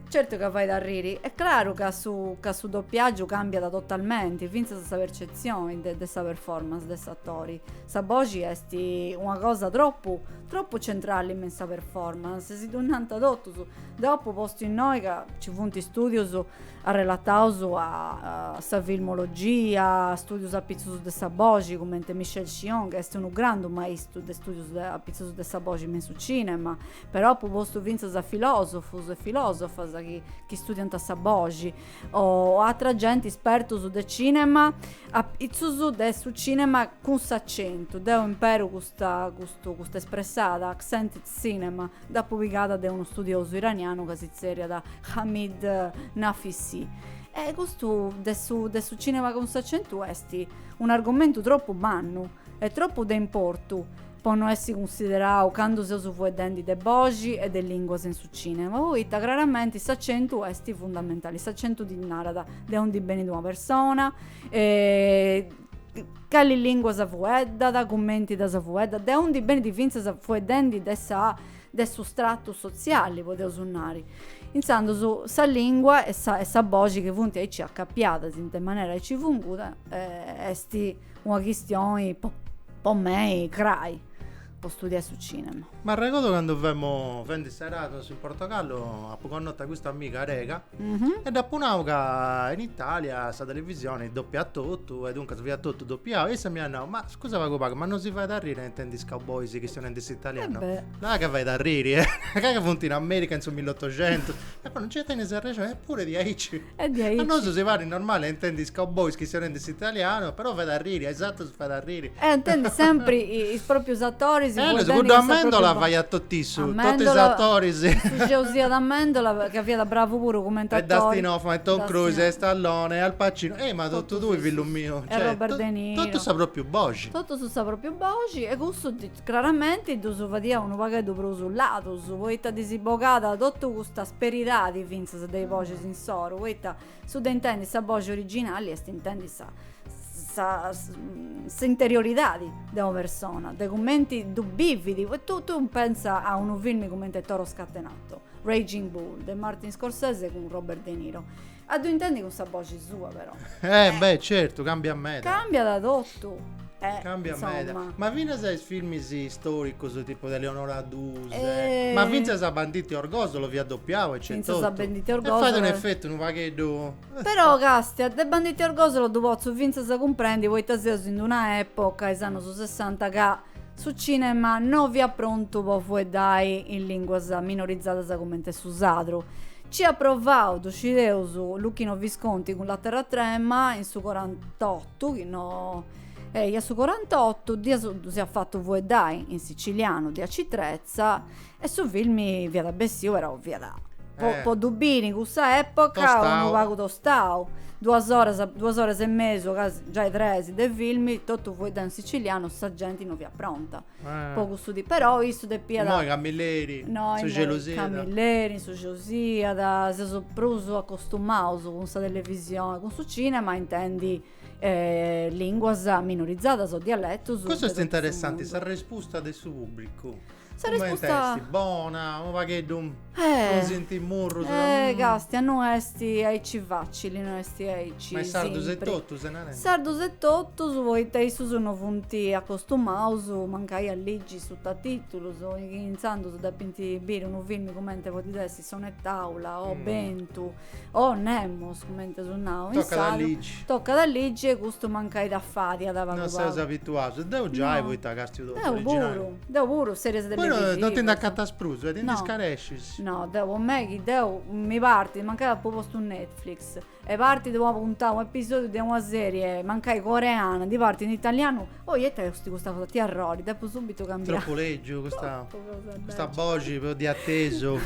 Certu ca fait arriri. Est craru ca su ca su dopiàgiu càmbiat totalmenti, fintzas sa percetzioni de de sa performance de s'atori. Sa boxi est una cosa tropu tropu centrali me in sa performance, si ddu nant totus. Deu apu postu innoi ca ci funt istùdius arrelataus a sa filmologia, stùdius apitzus de sa boxi, cumenti Michel Chion ca est unu grandu maistu de stùdius de apitzus de sa boxi me in su cinema, Però apu postu fintzas a filòsofus e filòsofas chi chi studiant a sa boxi o atra genti ispertus de cinema apitzus de su cinema cun s'acentu, deu imperu custa custu custa espressada, accented cinema, dd'apu pigada de unu studiosu iranianu chi si tzerriat Hamid Naficy. E custu de su de su cinema cun s'acentu est un'argomentu tropu mannu e tropu de importu po no essi cunsiderau candu seus fueddendi de boxi e de linguas in su cinema, poita craramenti s'acentu esti fundamentali, s'acentu ti narat de undi benit una persona, cali linguas fueddat, cumenti ddas fueddat, de undi benit fintzas fueddendi de sa de su stratu sotziali podeus nai, intzandus sa lingua e sa boxi chi funti aici acapiadas in d'una manera aici funguda esti Una chistioni po mei crai po studiai su cinema. M'arregodu candu femu fendi s'Erasmus in Portogallu apu connotu a custa amiga arega e dd'apu nau ca in Italia sa televisioni dopiat totu e duncas fiat totu dopiau e issa m'iat nau ma scusa pagu pagu ma no si fait arriri a intendi is cowboys chistionendi s'italianu. Là ca fait arriri eh ca ca funt in America in su millotoxentus. E poi non nc'est tenis arrexoni eppuru diaici E diaici. A nosu si parit normali a intendi is cowboys chistionendi s'italianu, però fait a riri, a is atrus fait a riri. E a intendi sempri is proprius atoris fueddendi is proprius. Cuddu Amendola faiat totu issu, totu is atoris. Ferrucciu fiat Amendola ca fiat bravu puru cumenti atori. E Dustin Hoffman e Tom Cruise e Stallone e Al Pacino, ehi ma totu tui fillu miu. E Robert De Niro. Totu sa propriu boxi. Totu sa propriu boxi e cussu Craramenti ddus fadia unu pagheddu prus ladus, poita ddis bogàt totu cust'asperidadi fintzas de i boxis insoru, poita su de intendi sa boxi originali est intendi sa sa s'interioridadi de ua persona, de cumenti ddu bividi, e tui pensa a unu filmi cumenti Toro Scatenato, Raging Bull, de Martin Scorsese cun Robert De Niro. A ddu intendi cun sa boxi sua, però. Eh, eh. beh, certu, cambiat meda. Cambiat totu. Eh, Cambia insomma. meda. Ma finas is filmis storicus tipu de Eleonora Duse, eh, ma finzas a Banditi Orgosolo fiat dopiau e centotu. Finzas a Banditi Orgosolo. E fat un effettu unu pagheddu. Però Castia, de Banditi Orgosolo ddu potzu finzas cumprendi poita seus in d'una epoca, is annus sessanta, ca Su cinema no fiat prontu po fueddai in linguas minorizadas comente su sadru. C'iat provau, dhu scideus, Luchino Visconti cun La terra trema in su corantottu, chi no eja su corantottu, dd'iat dhu siat fatu fueddai in sicilianu de Aci Trezza E su filmi fiat bessiu però fiat po po ddu biri in cussa epoca unu pagu tostau duas oras duas oras e mesu gasi giai tres de filmi totu fueddau in sicilianu sa genti no fiat pronta po cussu tipu però issu depiat innoi camilleri innoi su gelosiat innoi camilleri in su josiat seus prus acostumaus cun sa televisioni cun su cinema intendi linguas minorizadas o dialetus cussu est interessanti sa respusta de su publicu Sa resposta. Comente esti? Bona? Unu pagheddu. Eh. Frunzinti murrus. Eh castia no esti aici facili, no esti aici. Ma is sardus e totu ses narendi. Sardus e totus poita issus no funti acostumaus mancai a ligi sutatitulus, intzandus depinti biri unu filmi comente podit essi. sonetàula o mm. bentu o nemos comente su nau in salo toccat a ligi e custu mancai dda fadiat unu pagu non seus abituaus deu giai no. poita castiu totu deu puru deu puru series de bueno non ti nd'acatas prus e ti nd'iscarescis no deu po mei chi deu mi partit mancai apu postu netflix E partit una puntada, un'episodiu de una serie, mancai coreana, ndi partit in italianu. Oh, it'esti custa cosa, it'arrori, depu subitu cambiai. Tropu legiu custa custa boxi po di attesu.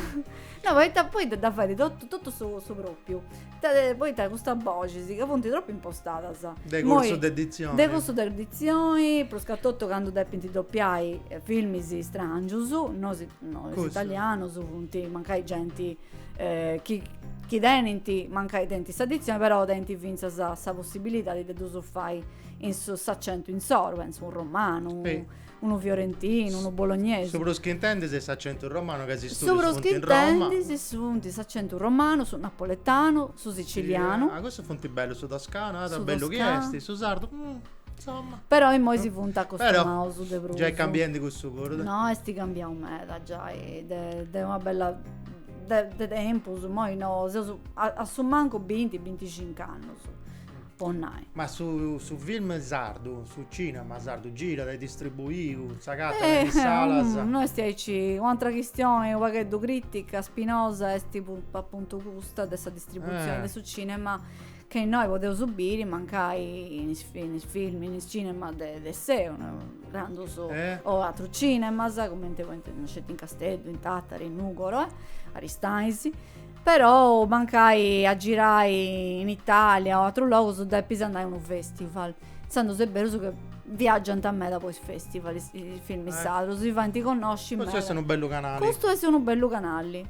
No, poita poi dda dda fait to totu su su propriu. Ta poita custas boxis ca funti tropu impostadas. De cursu de dizioni. De cursu de dizioni, prus ca totu candu depinti dopiai filmis strangius, nosu nosu italianus funti mancai genti chi tenint, mancai tenint sa ditzioni, però tenint fintzas sa possibilidadi de ddus fai in su s'accentu insoru, pentzu unu romanu, unu fiorentinu, unu bolognesu. Su prus chi intendis est s'accentu romanu ca is studius funt in Roma. Su prus chi intendis funt s'accentu romanu, su napoletanu, su sicilianu. Ah, cussus funt bellus, su toscanu, ah, ta bellu chi est, su sardu Insomma. Però immoi si funt acostumaus de prus. Giai cambiendi cussu puru. No, esti cambiau meda giai, de de una bella de de tempus, immoi no, seus a a su mancu binti, binticincu annus, po nai. Ma su su film sardu, su cinema sardu girat, est distribuiu, s'agatat in is salas? No esti aici, un'atera chistioni u' pagheddu critica, spinosa, esti appuntu custa de sa distribuzioni de su cinema Chi innoi podeus biri mancai in is in is film in is cinemas de d'essai no grandus o atrus cinemas cumenti po intendimus sceti in Casteddu in Tattari in Nugoro e Aristanis però mancai a girai in Italia o atrus logus depis andai a unu festival intzandus est berus chi viaggiant meda po is festival is film sardus si faint connosci meda custu est unu bellu canali custu est unu bellu canali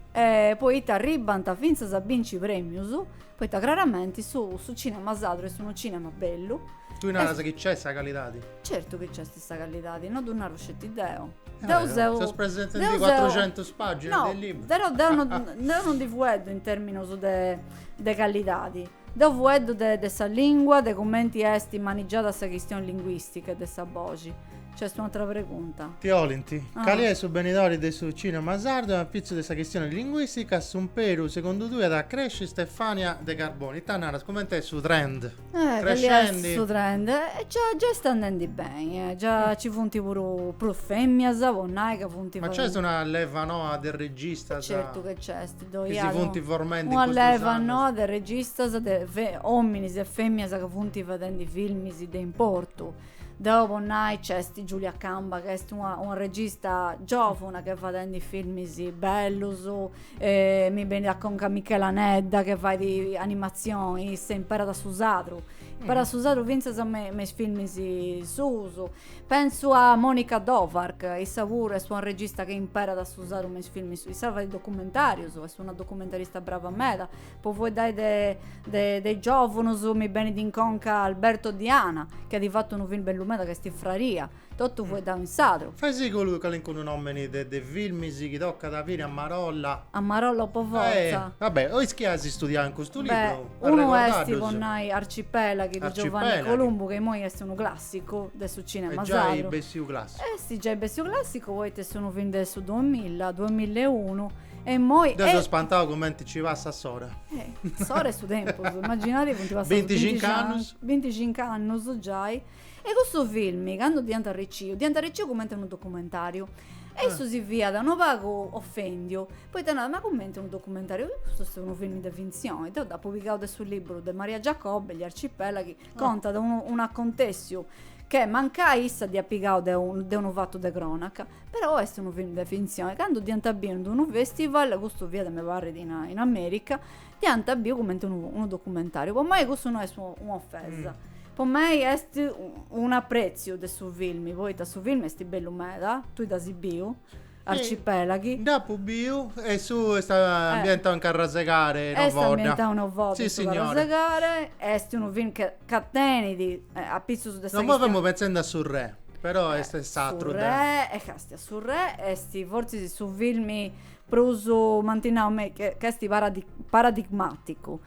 poita arribbant fintzas a binci premius Poita craramenti su su cinema sadru est unu cinema bellu. Tui naras chi nc'est sa callidadi? Certu chi nc'est sa callidadi, no ddu naru sceti deu. Deu seu Ses presentendi deu seu cuatrucentus paginas No, de libru. però deu no deu no ndi fueddu in terminus de de callidadi. Deu fueddu de de sa lingua, de cumenti est manigiada sa chistion linguistica e de sa boxi. C'est un'atra pregunta. Ti 'olint. Cali est su benidori de su cinema sardu e apitzus de sa chistioni linguistica, s'umperu segundu tui at a cresci Stefania de Carboni? Ita naras? Cumenti est su trend? Eh, cali est su trend? Già già est andendi beni, eh. Già ci funt puru femias, po nai ca funt. Ma nc'est una leva noa de registas. Certu chi nc'est, ddoi at. Chi si funt formendi in custus annus. Una leva noa de registas de ominis e femias ca funt fadendi filmis de importu. Deo po nai nc'est Giulia Camba ca est una una regista giovuna ch'est fadendi filmis bellus e mi benit a conca Michela Anedda che fait animazioni issa imperat su sadru imperat su sadru finzas me me is filmis suus pentzu a Monica Dovarch issa puru est una regista chi imperat su sadru me is filmis issa fait documentarius est una documentarista brava meda Po fueddai de, de, de is giòvunus mi benit in conca Alberto Diana, chi at fatu unu film bellu meda ca est Fraria, totu fueddau in sadru. Faisiddu calincunu nòmini de, de filmis chi tocat a biri a marolla. A marolla po fortza. Eh, va bè, o is chi as studiau in custu Beh, libru, unu est, po arrecordaddus. nai, Arcipelaghi de Giovanni Arcipelaghi. Columbu, ca imoi est unu clàssicu de su cinema Est giai sadru. bessiu clàssicu. Est giai bessiu clàssicu poita est unu film de su duamilla, duamilla e unu E immoi... Deu seu spantau cumenti nci passat s'ora. Eh, s'ora e su tempus, immaginadi funt passaus binticincu annus. Binticincu annus giai. E cussu filmi, candu dd'iant arriciu, dd'iant arriciu cumenti unu documentariu. E ah. issu si fiat unu pagu ofendiu, poita narat, ma cumenti unu documentariu? Custu est unu filmi de finzioni. Deu dd'apu pigau de su liburu de Maria Giacobbe, Gli arcipelaghi, contat unu, unu acontessiu che mancai issa dd'iat pigau de, un, de unu fatu de cronaca, però est unu film de finzioni. Candu dd'iant biu in unu festival, custu fiat mi parrit in, in America, dd'iant biu cumenti unu, unu documentariu. Po mei custu no est un'ofesa. Mm. Po mei est un'apreziu de su film, poita su film est bellu meda, tui dd'asi biu, Arcipelaghi. Dd'apu biu e su est ambientau in Carrasegare no Est ambientau in Ovodda sì su Carrasegare est unu film ca tenit apitzus de sa No femu pentzendi a Su Re però est s'atru de Su Re e castia Su Re est fortzis su filmi prus m'ant nau ca est paradigmaticu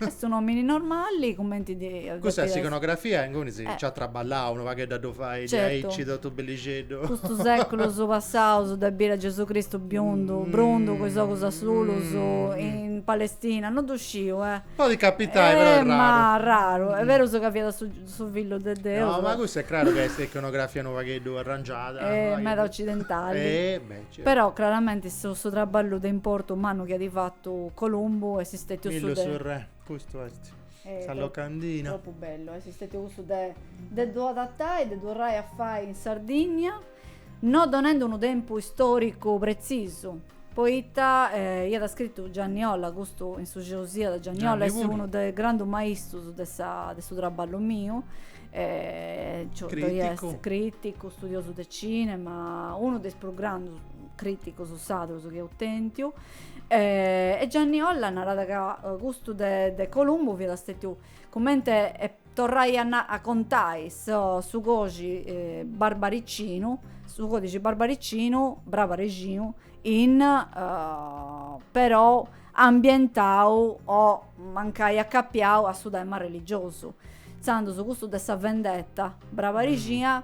Est un omini normali cumenti ddi depit essi Custa iconografia inguni si nci at traballau unu pagheddu a ddu fai diaici totu bellixeddu. Custus seculus passaus de biri a Gesù Cristu biundu, brundu cun is ogus asulus in Palestina no ddu sciu eh. Podit capitai però est raru. Ma raru. Est berus ca fiat su su fillu de Deus. No ma custa est craru ca est iconografia unu pagheddu arrangiada. E meda occidentali. E beh. Però craramenti su traballu de importu mannu chi at fatu Columbu est stètiu su de. Millu mi', custu est sa locandina. Tropu bellu, est stètiu cussu de de ddu adatai, de ddu torrai a fai in Sardigna, no donendu unu tempus istòricu pretzisu, poita iat scritu Gianni Olla, custu in su Gesù de Gianni Olla est unu de is grandus maistrus de sa de su traballu miu, Eh, Giotto, critico. Yes, critico, studioso de cinema, uno dei più grandi criticos sadros che ho tentiu. Eh, e Gianni Olla narada ca eh, gusto de, de Columbo vi da stetiu comente e torrai a, na, a contai so, su cosi eh, barbaricino, su codice barbaricino, brava regino, in uh, però ambientau mancai acapiau a su tema religiosu, intzandus custu de sa vendetta brabarixia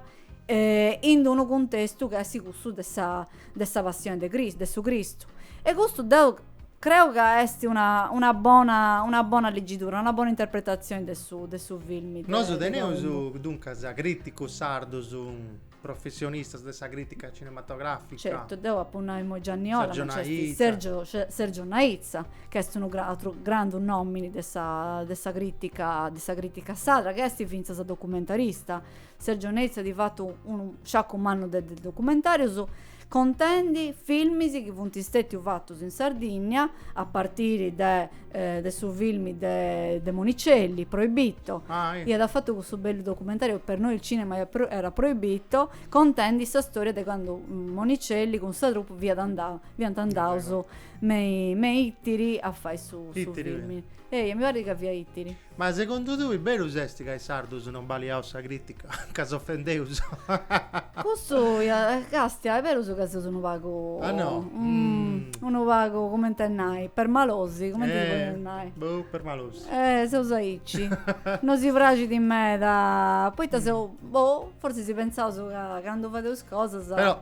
in unu cuntestu chi est cussu de sa de sa passioni de Cris de su Cristu e custu deu creu ca esti una una bona una bona ligidura, una bona interpretazioni de su de su filmi Nosu teneus duncas criticus sardus. professionistas de sa crìtica cinematogràfica. Certu, deu apu nai imoi Gianni Olla, Sergio Naitza. Sergio, Sergio Naitza, chi est unu atru grandu nòmini de sa, de sa crìtica, de sa crìtica sadra, chi est fintzas documentarista. Sergio Naitza at fatu unu sciacu mannu de documentàrius. contendi filmis chi funt stètius fatus in Sardìnnia, a partiri de de su filmi de de Monicelli, Proibito, iat fatu cussu bellu documentariu per noi il cinema era proibito, contendi sa storia de candu Monicelli cun sa troupe fiat andau, fiant andaus me me Ittiri a fai su filmi. Eia, mi parrit ca fiat Ittiri Ma segundu tui berus est ca is sardus non baliaus sa critica? Ca s'ofendeus? Cussu ia Castia, est berus ca seus unu pagu, Ah no? unu pagu cumenti a nai, permalosi, cumenti ddi podeus nai? Eh, boh, permalosi. Eh, seus aici. No si praxit meda, poita seus, boh, fortzis si pentzaus ca candu fadeus cosas. Però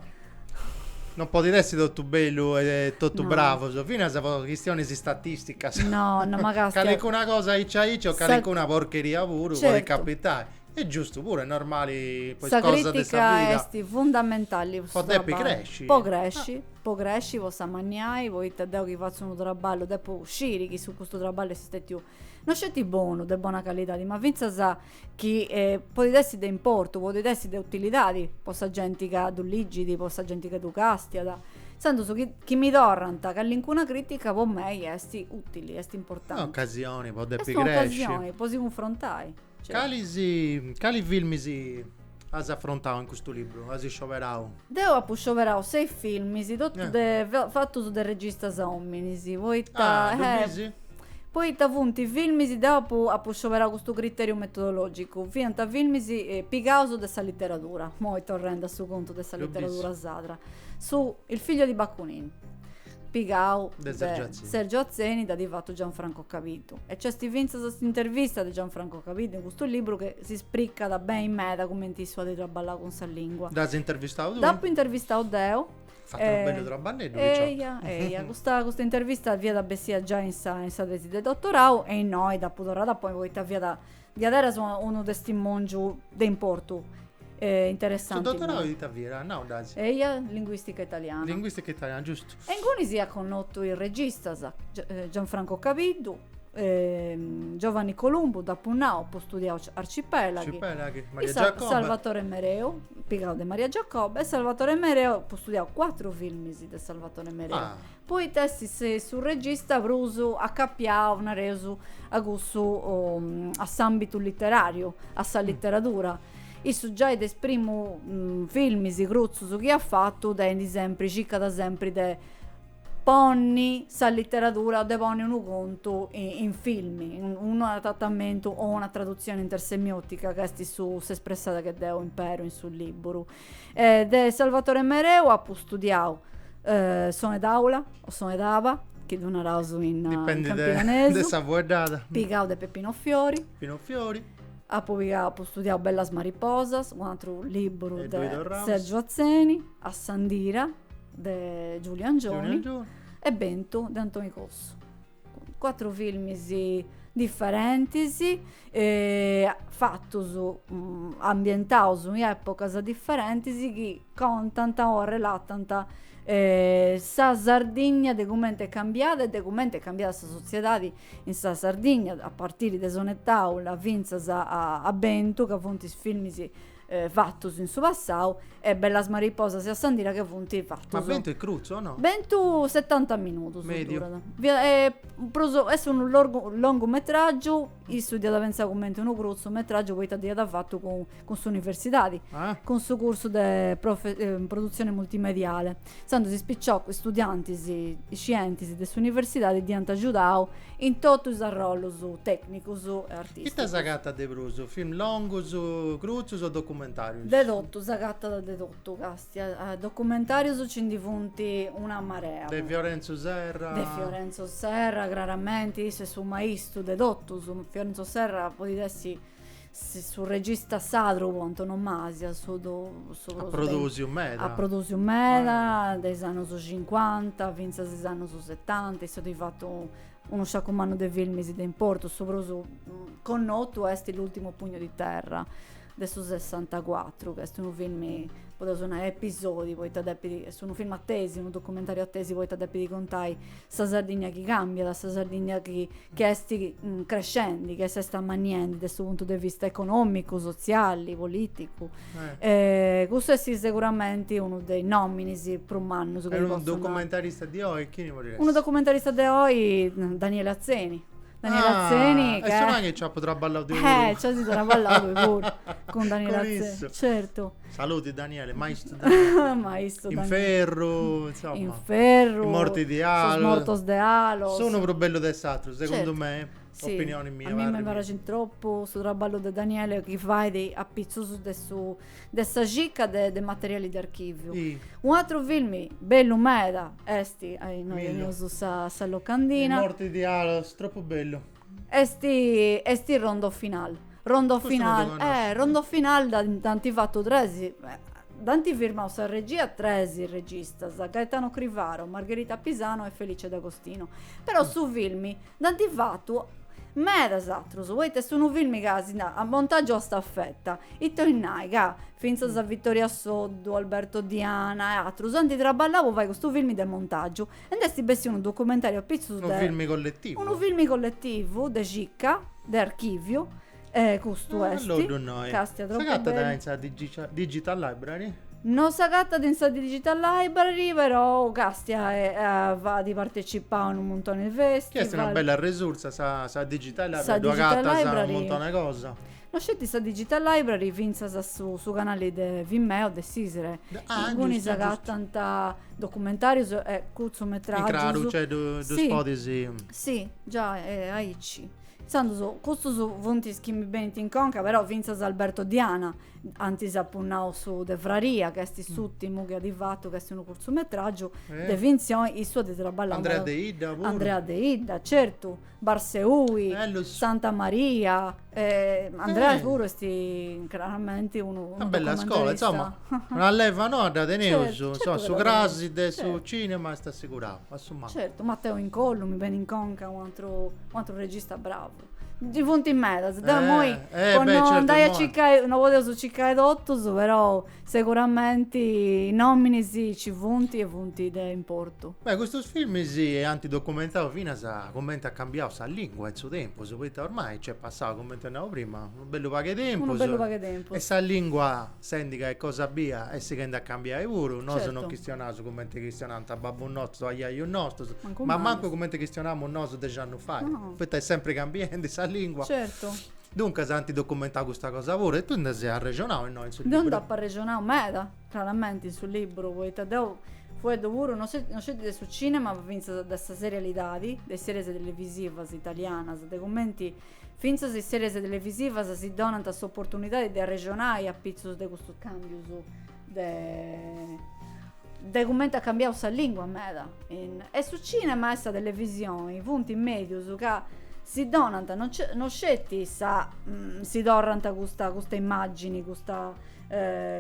Non podit essi totu bellu e totu no. bravus, finas po chistionis istatisticas. No, no mancai. Calicuna cosa aici aici o calicuna porcheria puru certo. podit capitai. Est giustu puru, est normali. Sa crìtica esti fundamentali. Po depi cresci. Po cresci, ah. po cresci, po s'amanniai, poita deu chi fatzu unu traballu depu sciri chi su custu traballu est stètiu No sceti bonu, de bona calidadi, ma fintzas chi podit essi de importu, podit essi de utilidadi po sa genti ca ddu ligit, po sa genti ca ddu castiat. Intzandus chi chi mi torrant calincuna critica po mei esti utili, esti importanti. Est un'ocasioni po depi cresci. Est un'ocasioni po si cunfrontai. Calis, cali filmis as afrontau in custu libru? As scioberau? Deu apu scioberau sei filmis, totus de fatus de registas ominis, poita, eh, poita funt filmis, deu apu apu scioberau custu criteriu metodologicu, fiant filmis pigaus de sa literadura, imoi torrendi a su contu de sa literadura sarda, su, Il figlio di Bakunìn, pigau de Sergio Atzeni dd'at fatu Gianfranco Cabiddu e nc'est fintzas s'intervista de Gianfranco Cabiddu in custu liburu chi si spricat beni meda cumenti issu at traballau cun sa lingua. Dd'as intervistau tui? Dd'apu intervistau deu. Fatu unu bellu traballeddu picioca. Eia, eia, custa custa intervista fiat bessia giai in sa in sa tesi de dottorau e innoi dd'apu torrada a ponni poita fiat Diaderus unu testimòngiu de importu e interessanti. Su dotorau ita fiat? Nau dai. Eia, linguìstica italiana. Linguìstica italiana, giustu. E inguni apu connotu is registas, Gianfranco Cabiddu, Giovanni Columbu, dd'apu nau, apu studiau Arcipelaghi. Arcipelaghi, Maria Giacobbe. Salvatore Mereu, pigau de Maria Giacobbe, e Salvatore Mereu, apu studiau cuatru filmis de Salvatore Mereu. Ah. Poita est su regista prus acapiau, nareus, a cussu, a s'àmbitu literàriu, a sa literadura. Issu giai de is primu filmis cruzus chi at fatu tendit sempri, circat sempri de ponni sa literadura, de ponni unu contu in filmi, in unu adatamentu o una tradutzioni intersemiotica ca est su, s'espressada chi deu imperu in su libburu. De Salvatore Mereu apu studiau Sonetàula o Sonetaba, chi ddu naraus in campidanesu. De sa fueddada. Pigau de Peppino Fiori. Peppino Fiori. Apu pigau, apu studiau Bellas mariposas, un'atru libburu de Sergiu Atzeni, Assandira de Giuliu Angioni e Bentu de Antoni Cossu. Cuatru filmis differentis fatus, ambientaus in epochas differentis chi contant o arrelatant sa Sardigna de cumenti est cambiada e de cumenti est cambiada sa sotziedadi in sa Sardigna a partiri de Sonetàula finzas a Bentu ca funt is filmis fatus in su passau e Bellas mariposas e Assandira chi funt fatus. Ma Bentu est cruzu o no? Bentu setanta minudus. Mediu. Prus, est unu lorgu, longumetraggiu, issu dd'iat pentzau cumenti unu cruzumetraggiu poita dd'iat fatu cun, cun s'universidadi. Ah. Cun su cursu de profe, produzione multimediale. Intzandus is piciocus studiantis iscientis de s'universidadi dd'iant agiudau in totu is arrollus tècnicus e artìsticus. Ita s'agatat de prus, film longus, crutzus o documentàrius? De totu, s'agatat de totu, càstia. Documentàrius nci ndi funt una marea. De Fiorenzu Serra? De Fiorenzo Serra craramenti, issu est su maistu de totus. Fiorenzo Serra podit essi su regista sadru po antonomasia issu at produsiu meda de is annus cincuanta finzas is annus setanta issu at fatu unu sciacu mannu de filmis de importu su prus connotu est l'ultimo pugno di terra de su sessantacuatru chi est unu filmi podeus nai episodi poita depit est unu filmu a tesi unu documentariu a tesi poita depit contai Sa Sardigna chi cambiat, sa Sardigna chi chi est crescendi, chi s'est ammanniendi de su puntu de vista economicu, sotziali, politicu. Custu est seguramenti unu de is nominis prus mannus. E unu documentarista de oi chini podit essi? Unu documentarista de oi Daniele Atzeni. Daniele Atzeni ca. E su nai chi nci apu traballau deu puru. Eh! Nci asi traballau tui puru cun Daniele Atzeni. Cun issu. Certu. Saluti Daniele, maistu Daniele. maistu Daniele. Inferru, insomma. Inferru. I morti di Alos. Sos mortos de Alos. Unu prus bellu de s'atru, segundu certo. me. Sì. Opinioni mia. A mei mi praxit tropu su traballu de Daniele chi fait apitzus de su de sa cicca de de materiali de archiviu. Sì. U'atru filmi bellu meda est, innoi teneus sa sa locandina. I morti di Alos, est tropu bellu. Est est rondo final. Rondo Custu non final. ddu Eh, connosco. rondo final da- dd'ant fatu tres. Dd'ant firmau sa regia tres registas, Gaetano Crivaro, Margherita Pisano e Felice D'Agostino. Però su filmi dd'ant fatu medas atrus, poita est unu filmi ca si na- a montagiu a stafeta. Ita 'oit nai ca fintzas a Vittoria Soddu, Alberto Diana e atrus ant traballau po fai custu filmi de montagiu. Nd'est bessiu unu documentàriu a pitzus de. Unu filmi colletivu. Unu filmi colletivu de cicca, de archìviu, eh, custu est. Allora ddu nnoi. Càstia tropu bellu. S'agatat in sa Digital Library? No s'agatat in sa Digital Library, perou càstia at partecipau a unu muntoni de festival. Chi est una bella resursa sa Digital Library, ddoi agatas unu muntoni de cosa. No sceti sa Digital Library fintzas su, su canali de Vimeo de s'Isre. Ah, Inguni giustu, s'agatant documentàrius e curtzumetràgius. In craru, cioè ddus podis. Si, giai, e aici. Intzandus, custus funt is chi mi benint in conca, però fintzas Alberto Diana, antis apu nau su de Fraria, ca est s'ùrtimu chi at fatu, ca est unu curtzumetràgiu de fintzioni, issu at traballau. Andrea Deidda puru. Andrea Deidda, certu. Barseui, Santa Maria, Andreas puru est craramenti unu documentarista. Una bella scola, insoma, una leva noa dda teneus, insoma, su crasi de su cinema est assicurau, a su mancu. Certu, Matteo Incollu mi benit in conca, u' atru regista bravu. Ndi funt medas, deu imoi po no andai a circai, no podeus circai totus, però Seguramenti is nominis ci funt e funt de importu. Beh, custus filmis ant documentau finas cumenti at cambiau sa lingua in su tempus, poita ormai nc'est passau, cumenti naràt prima, unu bellu pagu 'e tempus. Unu bellu pagu 'e tempus. E sa lingua, sendi ca est cosa bia, est sighendi a cambiai puru. Certu. Nosu non chistionaus cumenti chistionànt babbus nostus, ajajus nostus. Mancu mei. Ma mancu cumenti chistionamus nosu dexi annus fai. No. Poita est sempri cambiendi sa lingua. Certu. Duncas ant documentau custa cosa puru e tui nd'as arrexonau innoi in su liburu? Deu nd'apu arrexonau meda, craramenti, in su liburu, poita deu fueddu puru, no no sceti de su cinema, ma fintzas de sa serialidadi, de is series televisivas italianas, de cumenti fintzas is series televisivas si donant s'oportunidadi de arrexonai apitzus de custus càmbius. de de cumenti at cambiau sa lingua meda e su cinema e sa televisioni funt medius ca si donant no ce no sceti sa si torrant custa custa immagini custa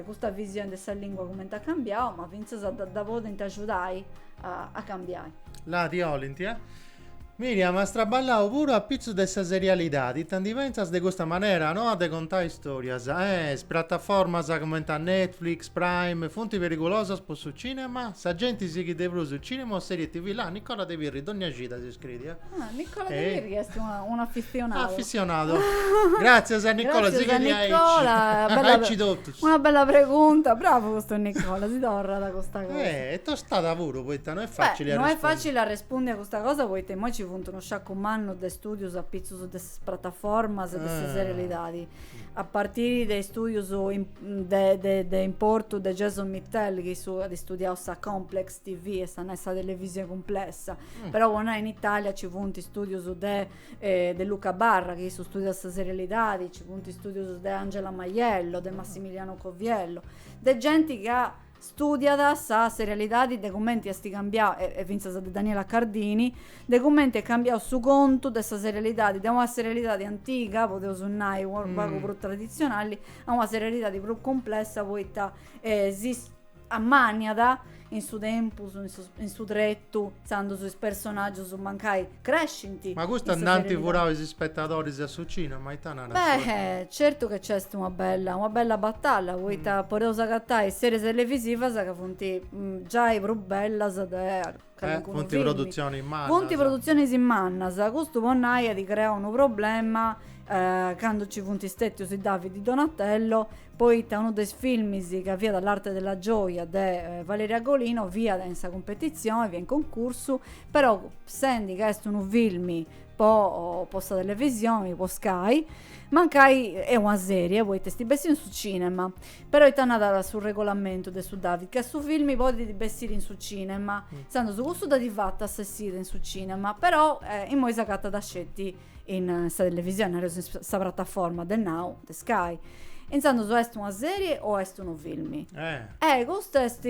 custa visioni de sa lingua cumenti at cambiau ma finzas dda podint agiudai a cambiai. Là, ti 'olint. Miriam, as traballau puru apitzus de sa serialidadi, ita ndi pentzas de custa manera noa de contai istorias? Eh, is prataformas cumenti a Netflix, Prime, funti perigulosas po su cinema? Sa genti sighit de prus su cinema o serie TV? Là, Nicola De Pirri, dogna cida si scriit, eh? Ah, Nicola De Pirri est unu afissionadu. Afissionadu. Gratzias a Nicola, sighit aici. Gratzias a Nicola, bella. Aici totus. Una bella pregunta, bravu custu Nicola, si torrat custa cosa. Eh, e tostada puru, poita no est facili a arrespundi. Beh, no est facili a arrespundi a custa cosa poita immoi ci funt unu sciacu mannu de studius apitzus de sas prataformas e de sa serialidadi. A partiri de studius de de de importu de Jason Mittel, chi issu at studiau sa complex TV est a nai sa televisioni cumplessa. Però po nai in Italia ci funt studius de de Luca Barra, chi issu studiat sa serialidadi, nci funt studius de Angela Maiello, de Massimiliano Coviello, de genti ca studiat sa serialidadi de cumenti est cambiau, e fintzas de Daniela Cardini, de cumenti est cambiau su contu de sa serialidadi, de una serialidadi antiga, podeus nai, u' pagu prus traditzionali, a una serialidadi prus cumplessa poita ammaniat in su tempus in su in su tretu zandus is personaggius mancai crescint Ma custa nd'ant furau is spettadoris a su cinema, ita narat su Beh, certu ca nc'est una bella una bella batalla poita podeus agatai is seris televisivas ca funt giai prus bellas de Funt produtzionis mannas. Funt produtzionis mannas. Custu po nai at creau unu problema candu nci funt stètius is David de Donatello poita unu de is filmis ca fiat L'arte della gioia de Valeria Golino fiat in sa cumpetitzioni, fiat in concursu, però sendi ca est unu filmi po sa televisioni, po Sky, Mancai est una sèrie, poita est bessiu in su cìnema, però ita narat su regolamentu de su David, ca su filmi podit bessiri in su cìnema, intzandus custu dd'at fata sa essida in su cìnema, però imoi s'agatat sceti in sa televisioni, nareus in sa prataforma de Now de Sky. Intzandus o est una sèrie o est unu filmi. Eh custu est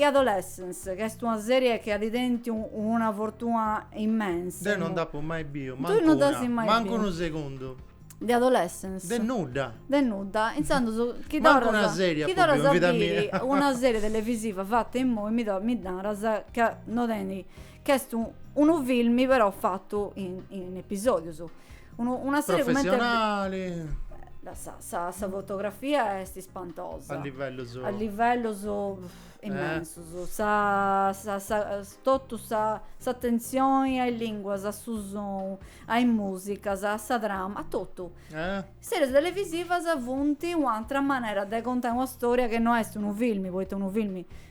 Adolescence ca est una serie chi at tentu una fortuna immensa. Deu non dd'apu mai biu, mancu una, mancu unu segundu. De adolescence? De nudda. De nudda, intzandus chi torras. Mancu una serie apu biu in vida mia. Chi torras a biri una serie televisiva fata imoi mi mi naras ca no tenit, ca est unu filmi però fatu in episodius. Unu, una serie professionali. Comente la, sa, sa, sa fotografia est ispantosa. A livellos. A livellos eh. immensos. Eh. Sa, sa, sa, totu sa, s'attenzioni a is linguas, a su sonu, a is musicas, a sa trama, a totu. Eh. Series televisivas funt un'atra manera de contai una storia che no est unu filmi, poita unu filmi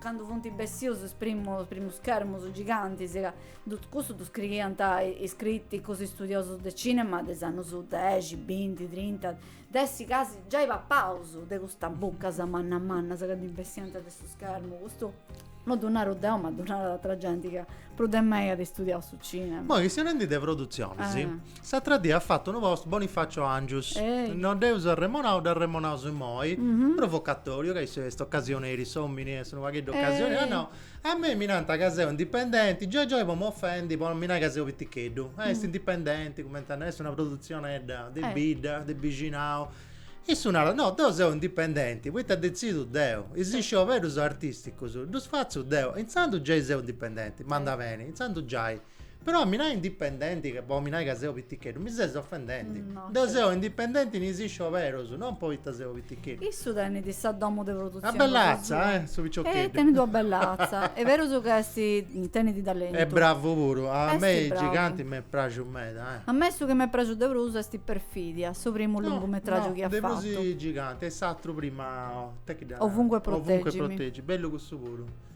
Candu funt bessius is primus schermus gigantis ca custu ddu scriiant is criticus studiosus de cinema de is annus dexi, binti, trinta, de essi casi giai papaus de custas buccas mannas mannas ca ndi bessiant de su schermu, custu non ddu naru deu ma ddu narat atra genti ca prus de mei at studiau su cinema. Imoi chistionendi de produtzionis, S'atra die at fatu unu post Bonifacio Angius, no dd'eus arremonau, dd'arremonaus immoi, provocatoriu, ca issu est ocasioneri, s'omini est unu pagheddu ocasioneri, at nau, a mei mi nant ca seu indipendenti, giai giai po m'ofendi, po non mi nai ca seu piticheddu, est indipendenti, cumenti a nai, est una produtzionedda de bidda, de bixinau, issu narat, no, deu seu indipendenti, poita detzidu deu, is scioberus artisticus ddus fatzu deu, intzandus giai seu indipendenti, m'anda beni, intzandus giai. Però a mi nai indipendenti, po a mi nai ca seu piticheddu, mi ses ofendendi. Deu seu indipendenti in is scioberus, non poita seu piticheddu. Issu tenit sa domu de produtzioni. Una bell'atza, eh, su piciocheddu. E tenit una bell'atza. Est berus ca est, tenit talentu. Est bravu puru. A mei is giganti m'est praxiu meda, eh. A mei su chi m'est praxiu de prus est Perfidia, su primu lungumetràgiu chi at fatu. No, no, de prus is giganti e s'atru prima, ita chi dd'at nai. Ovunque proteggimi. Ovunque proteggimi, bellu cussu puru.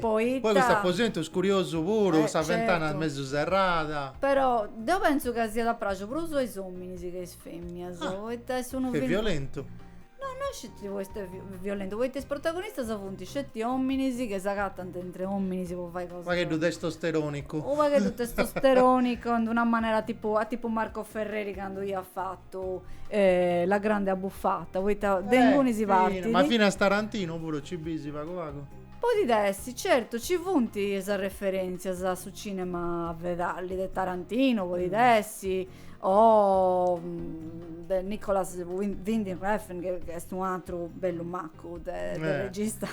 Poi custu aposentu est curiosu puru, sa fentana mesu serrada. Però deu pentzu ca siat praxiu prus a is ominis che a is feminas, poita est unu film. Ca est violentu. No, no sceti poita est violentu, poita is protagonistas funt sceti ominis chi s'agatant intre ominis po fai cosas. U' pagheddu testosteronicu. U' pagheddu testosteronicu in d'una manera tipu a tipu Marco Ferreri candu iat fatu la grande abbuffata poita de eh, inguni si partit ma finas Tarantino puru ci bisi pagu pagu podit essi certu ci funt is referentzias a su cinema fedali de Tarantino podit mm. essi o mm, de Nicolas Winding Refn chi est un'atru bellu maccu de, de eh. regista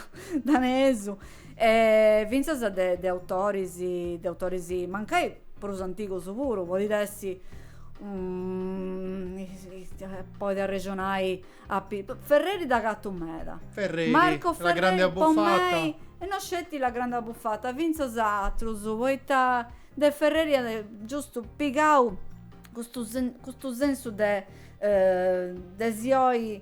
danesu E fintzas de de autoris, de autoris mancai prus antigus puru, podit essi si podit arrexonai a pi, Ferreri dd'agatu meda. Ferreri, Marco Ferreri, la grande abbuffata. Po mei, e no sceti la grande abbuffata, fintzas atrus, poita de Ferreri at giustu pigau custu custu sensu de de si 'oi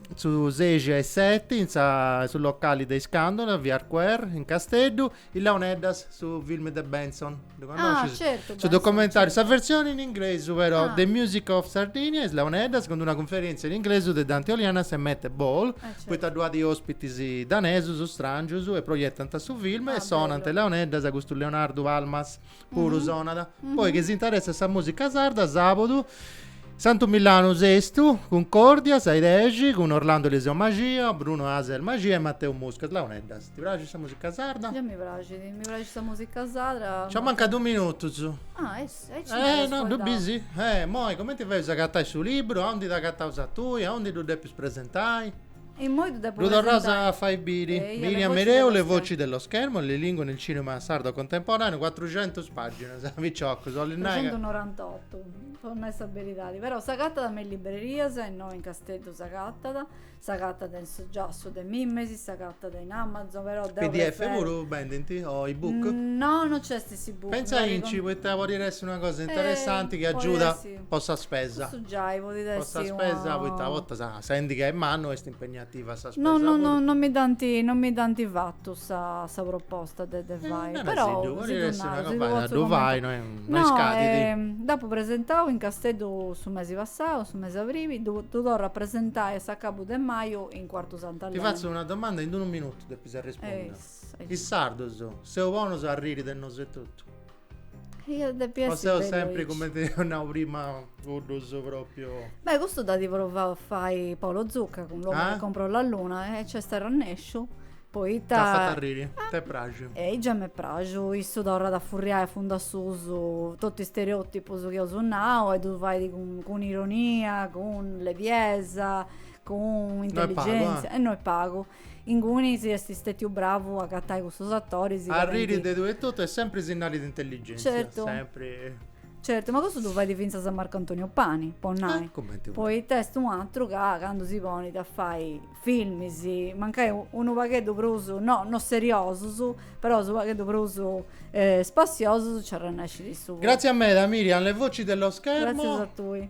Su ses a is seti in sa su locali de Iscandula, via Arquer, in Casteddu, Is Launeddas, su film de Bentzon. Ddu Ah, connoscis? certu, Su Bentzon, documentariu, sa certu. versioni in inglesu però, Ah. The Music of Sardinia, Is Launeddas, cun d'una cunferientzia in inglesu de Dante Olianas e Mette Ball, Eh, certu. poita ddu at ospitis danesus, strangius, e proiettant su film Ah, e sonant bellu. is Launeddas, custu Leonardu Palmas. puru mm-hmm. sonat. Mm-hmm. Poi che si interessat sa musica sarda, sabodu Santu Milanu sestu, Concordia, sai 10, con Orlando Eliseo Magia, Bruno Aser Magia e Matteo Musca. Launeddas, ti piace sa musica sarda? Già mi piace, mi piace sa musica sarda. Ci manca due minuti. Ah, eh, eh, ci eh no, due busy. Eh, moi, come ti fai a cattare su libro? A onde ti ha cattato sa tua? A onde tu devi presentare? E immoi ddu depu Lu torraus a presentai. fai biri. Eia, Le Miriam voci Mereu, dello Le voci dello schermo, Le lingue nel cinema sardo contemporaneo, cuatruxentus pàginas, picioccu, 'ollu nai ca. Trecentunorantotu, po nai sa beridadi. Però s'agatat me is librerias, innoi in Casteddu s'agatat, s'agatat in su giassu de Mimesi, s'agatat in Amazon, però deu Pdf preferru. puru bendint? O e-book? No, no nc'est s'e-book. Pentza aici, poita podit essi una cosa interessanti chi agiuda. Po sa spesa. Cussu giai podit essi una. Po sa spesa poita a bortas sendi ca est mannu est impegnativa sa spesa puru. No no no mi dd'ant no mi dd'ant fatu sa sa proposta de de fai. Però. Naresiddu podit essi una campagna ddu fai no est no est scadiu. No dd'apu presentau in Casteddu su mesi passau su mesi abribi ddu ddu torru a presentai a s'acabu de maju in Cuartu Sant'Aleni. Ti fatzu una domanda in unu minutu depis arrespondi. Is sardos seus bonus a arriri de nosu etotu. Io depia essiri bellu aici. O seus sempri cumenti eus nau prima cuddus propriu. Beh custu dd'at provau a fai Paolo Zucca cun L'uomo che comprò la luna e nc'est arrennesciu, poita. T'at fatu arriri? T'est praxiu? Ehi già m'est praxiu, issu torrat a furriai a fundu a susu totu is stereotipus chi eus nau e ddus fait cun ironia, cun lebiesa, cun intelligenza. No est pagu, eh. E no est pagu. Ingunis si est stetiu bravu a agatai cussus attoris. Arriri de tui etotu est sempri signali de intelligèntzia. Certu. Sempri. Certu, ma custu ddu fait fintzas Marco Antonio Pani, po nai. Cumenti. Poita est un'atru ca candu si ponit a fai filmis, mancai unu pagheddu prus, no, no seriosus, però unu pagheddu prus spassiosus, nci arrenescit issu. Gratzias meda Miriam, le voci dello schermo. Gratzias a tui.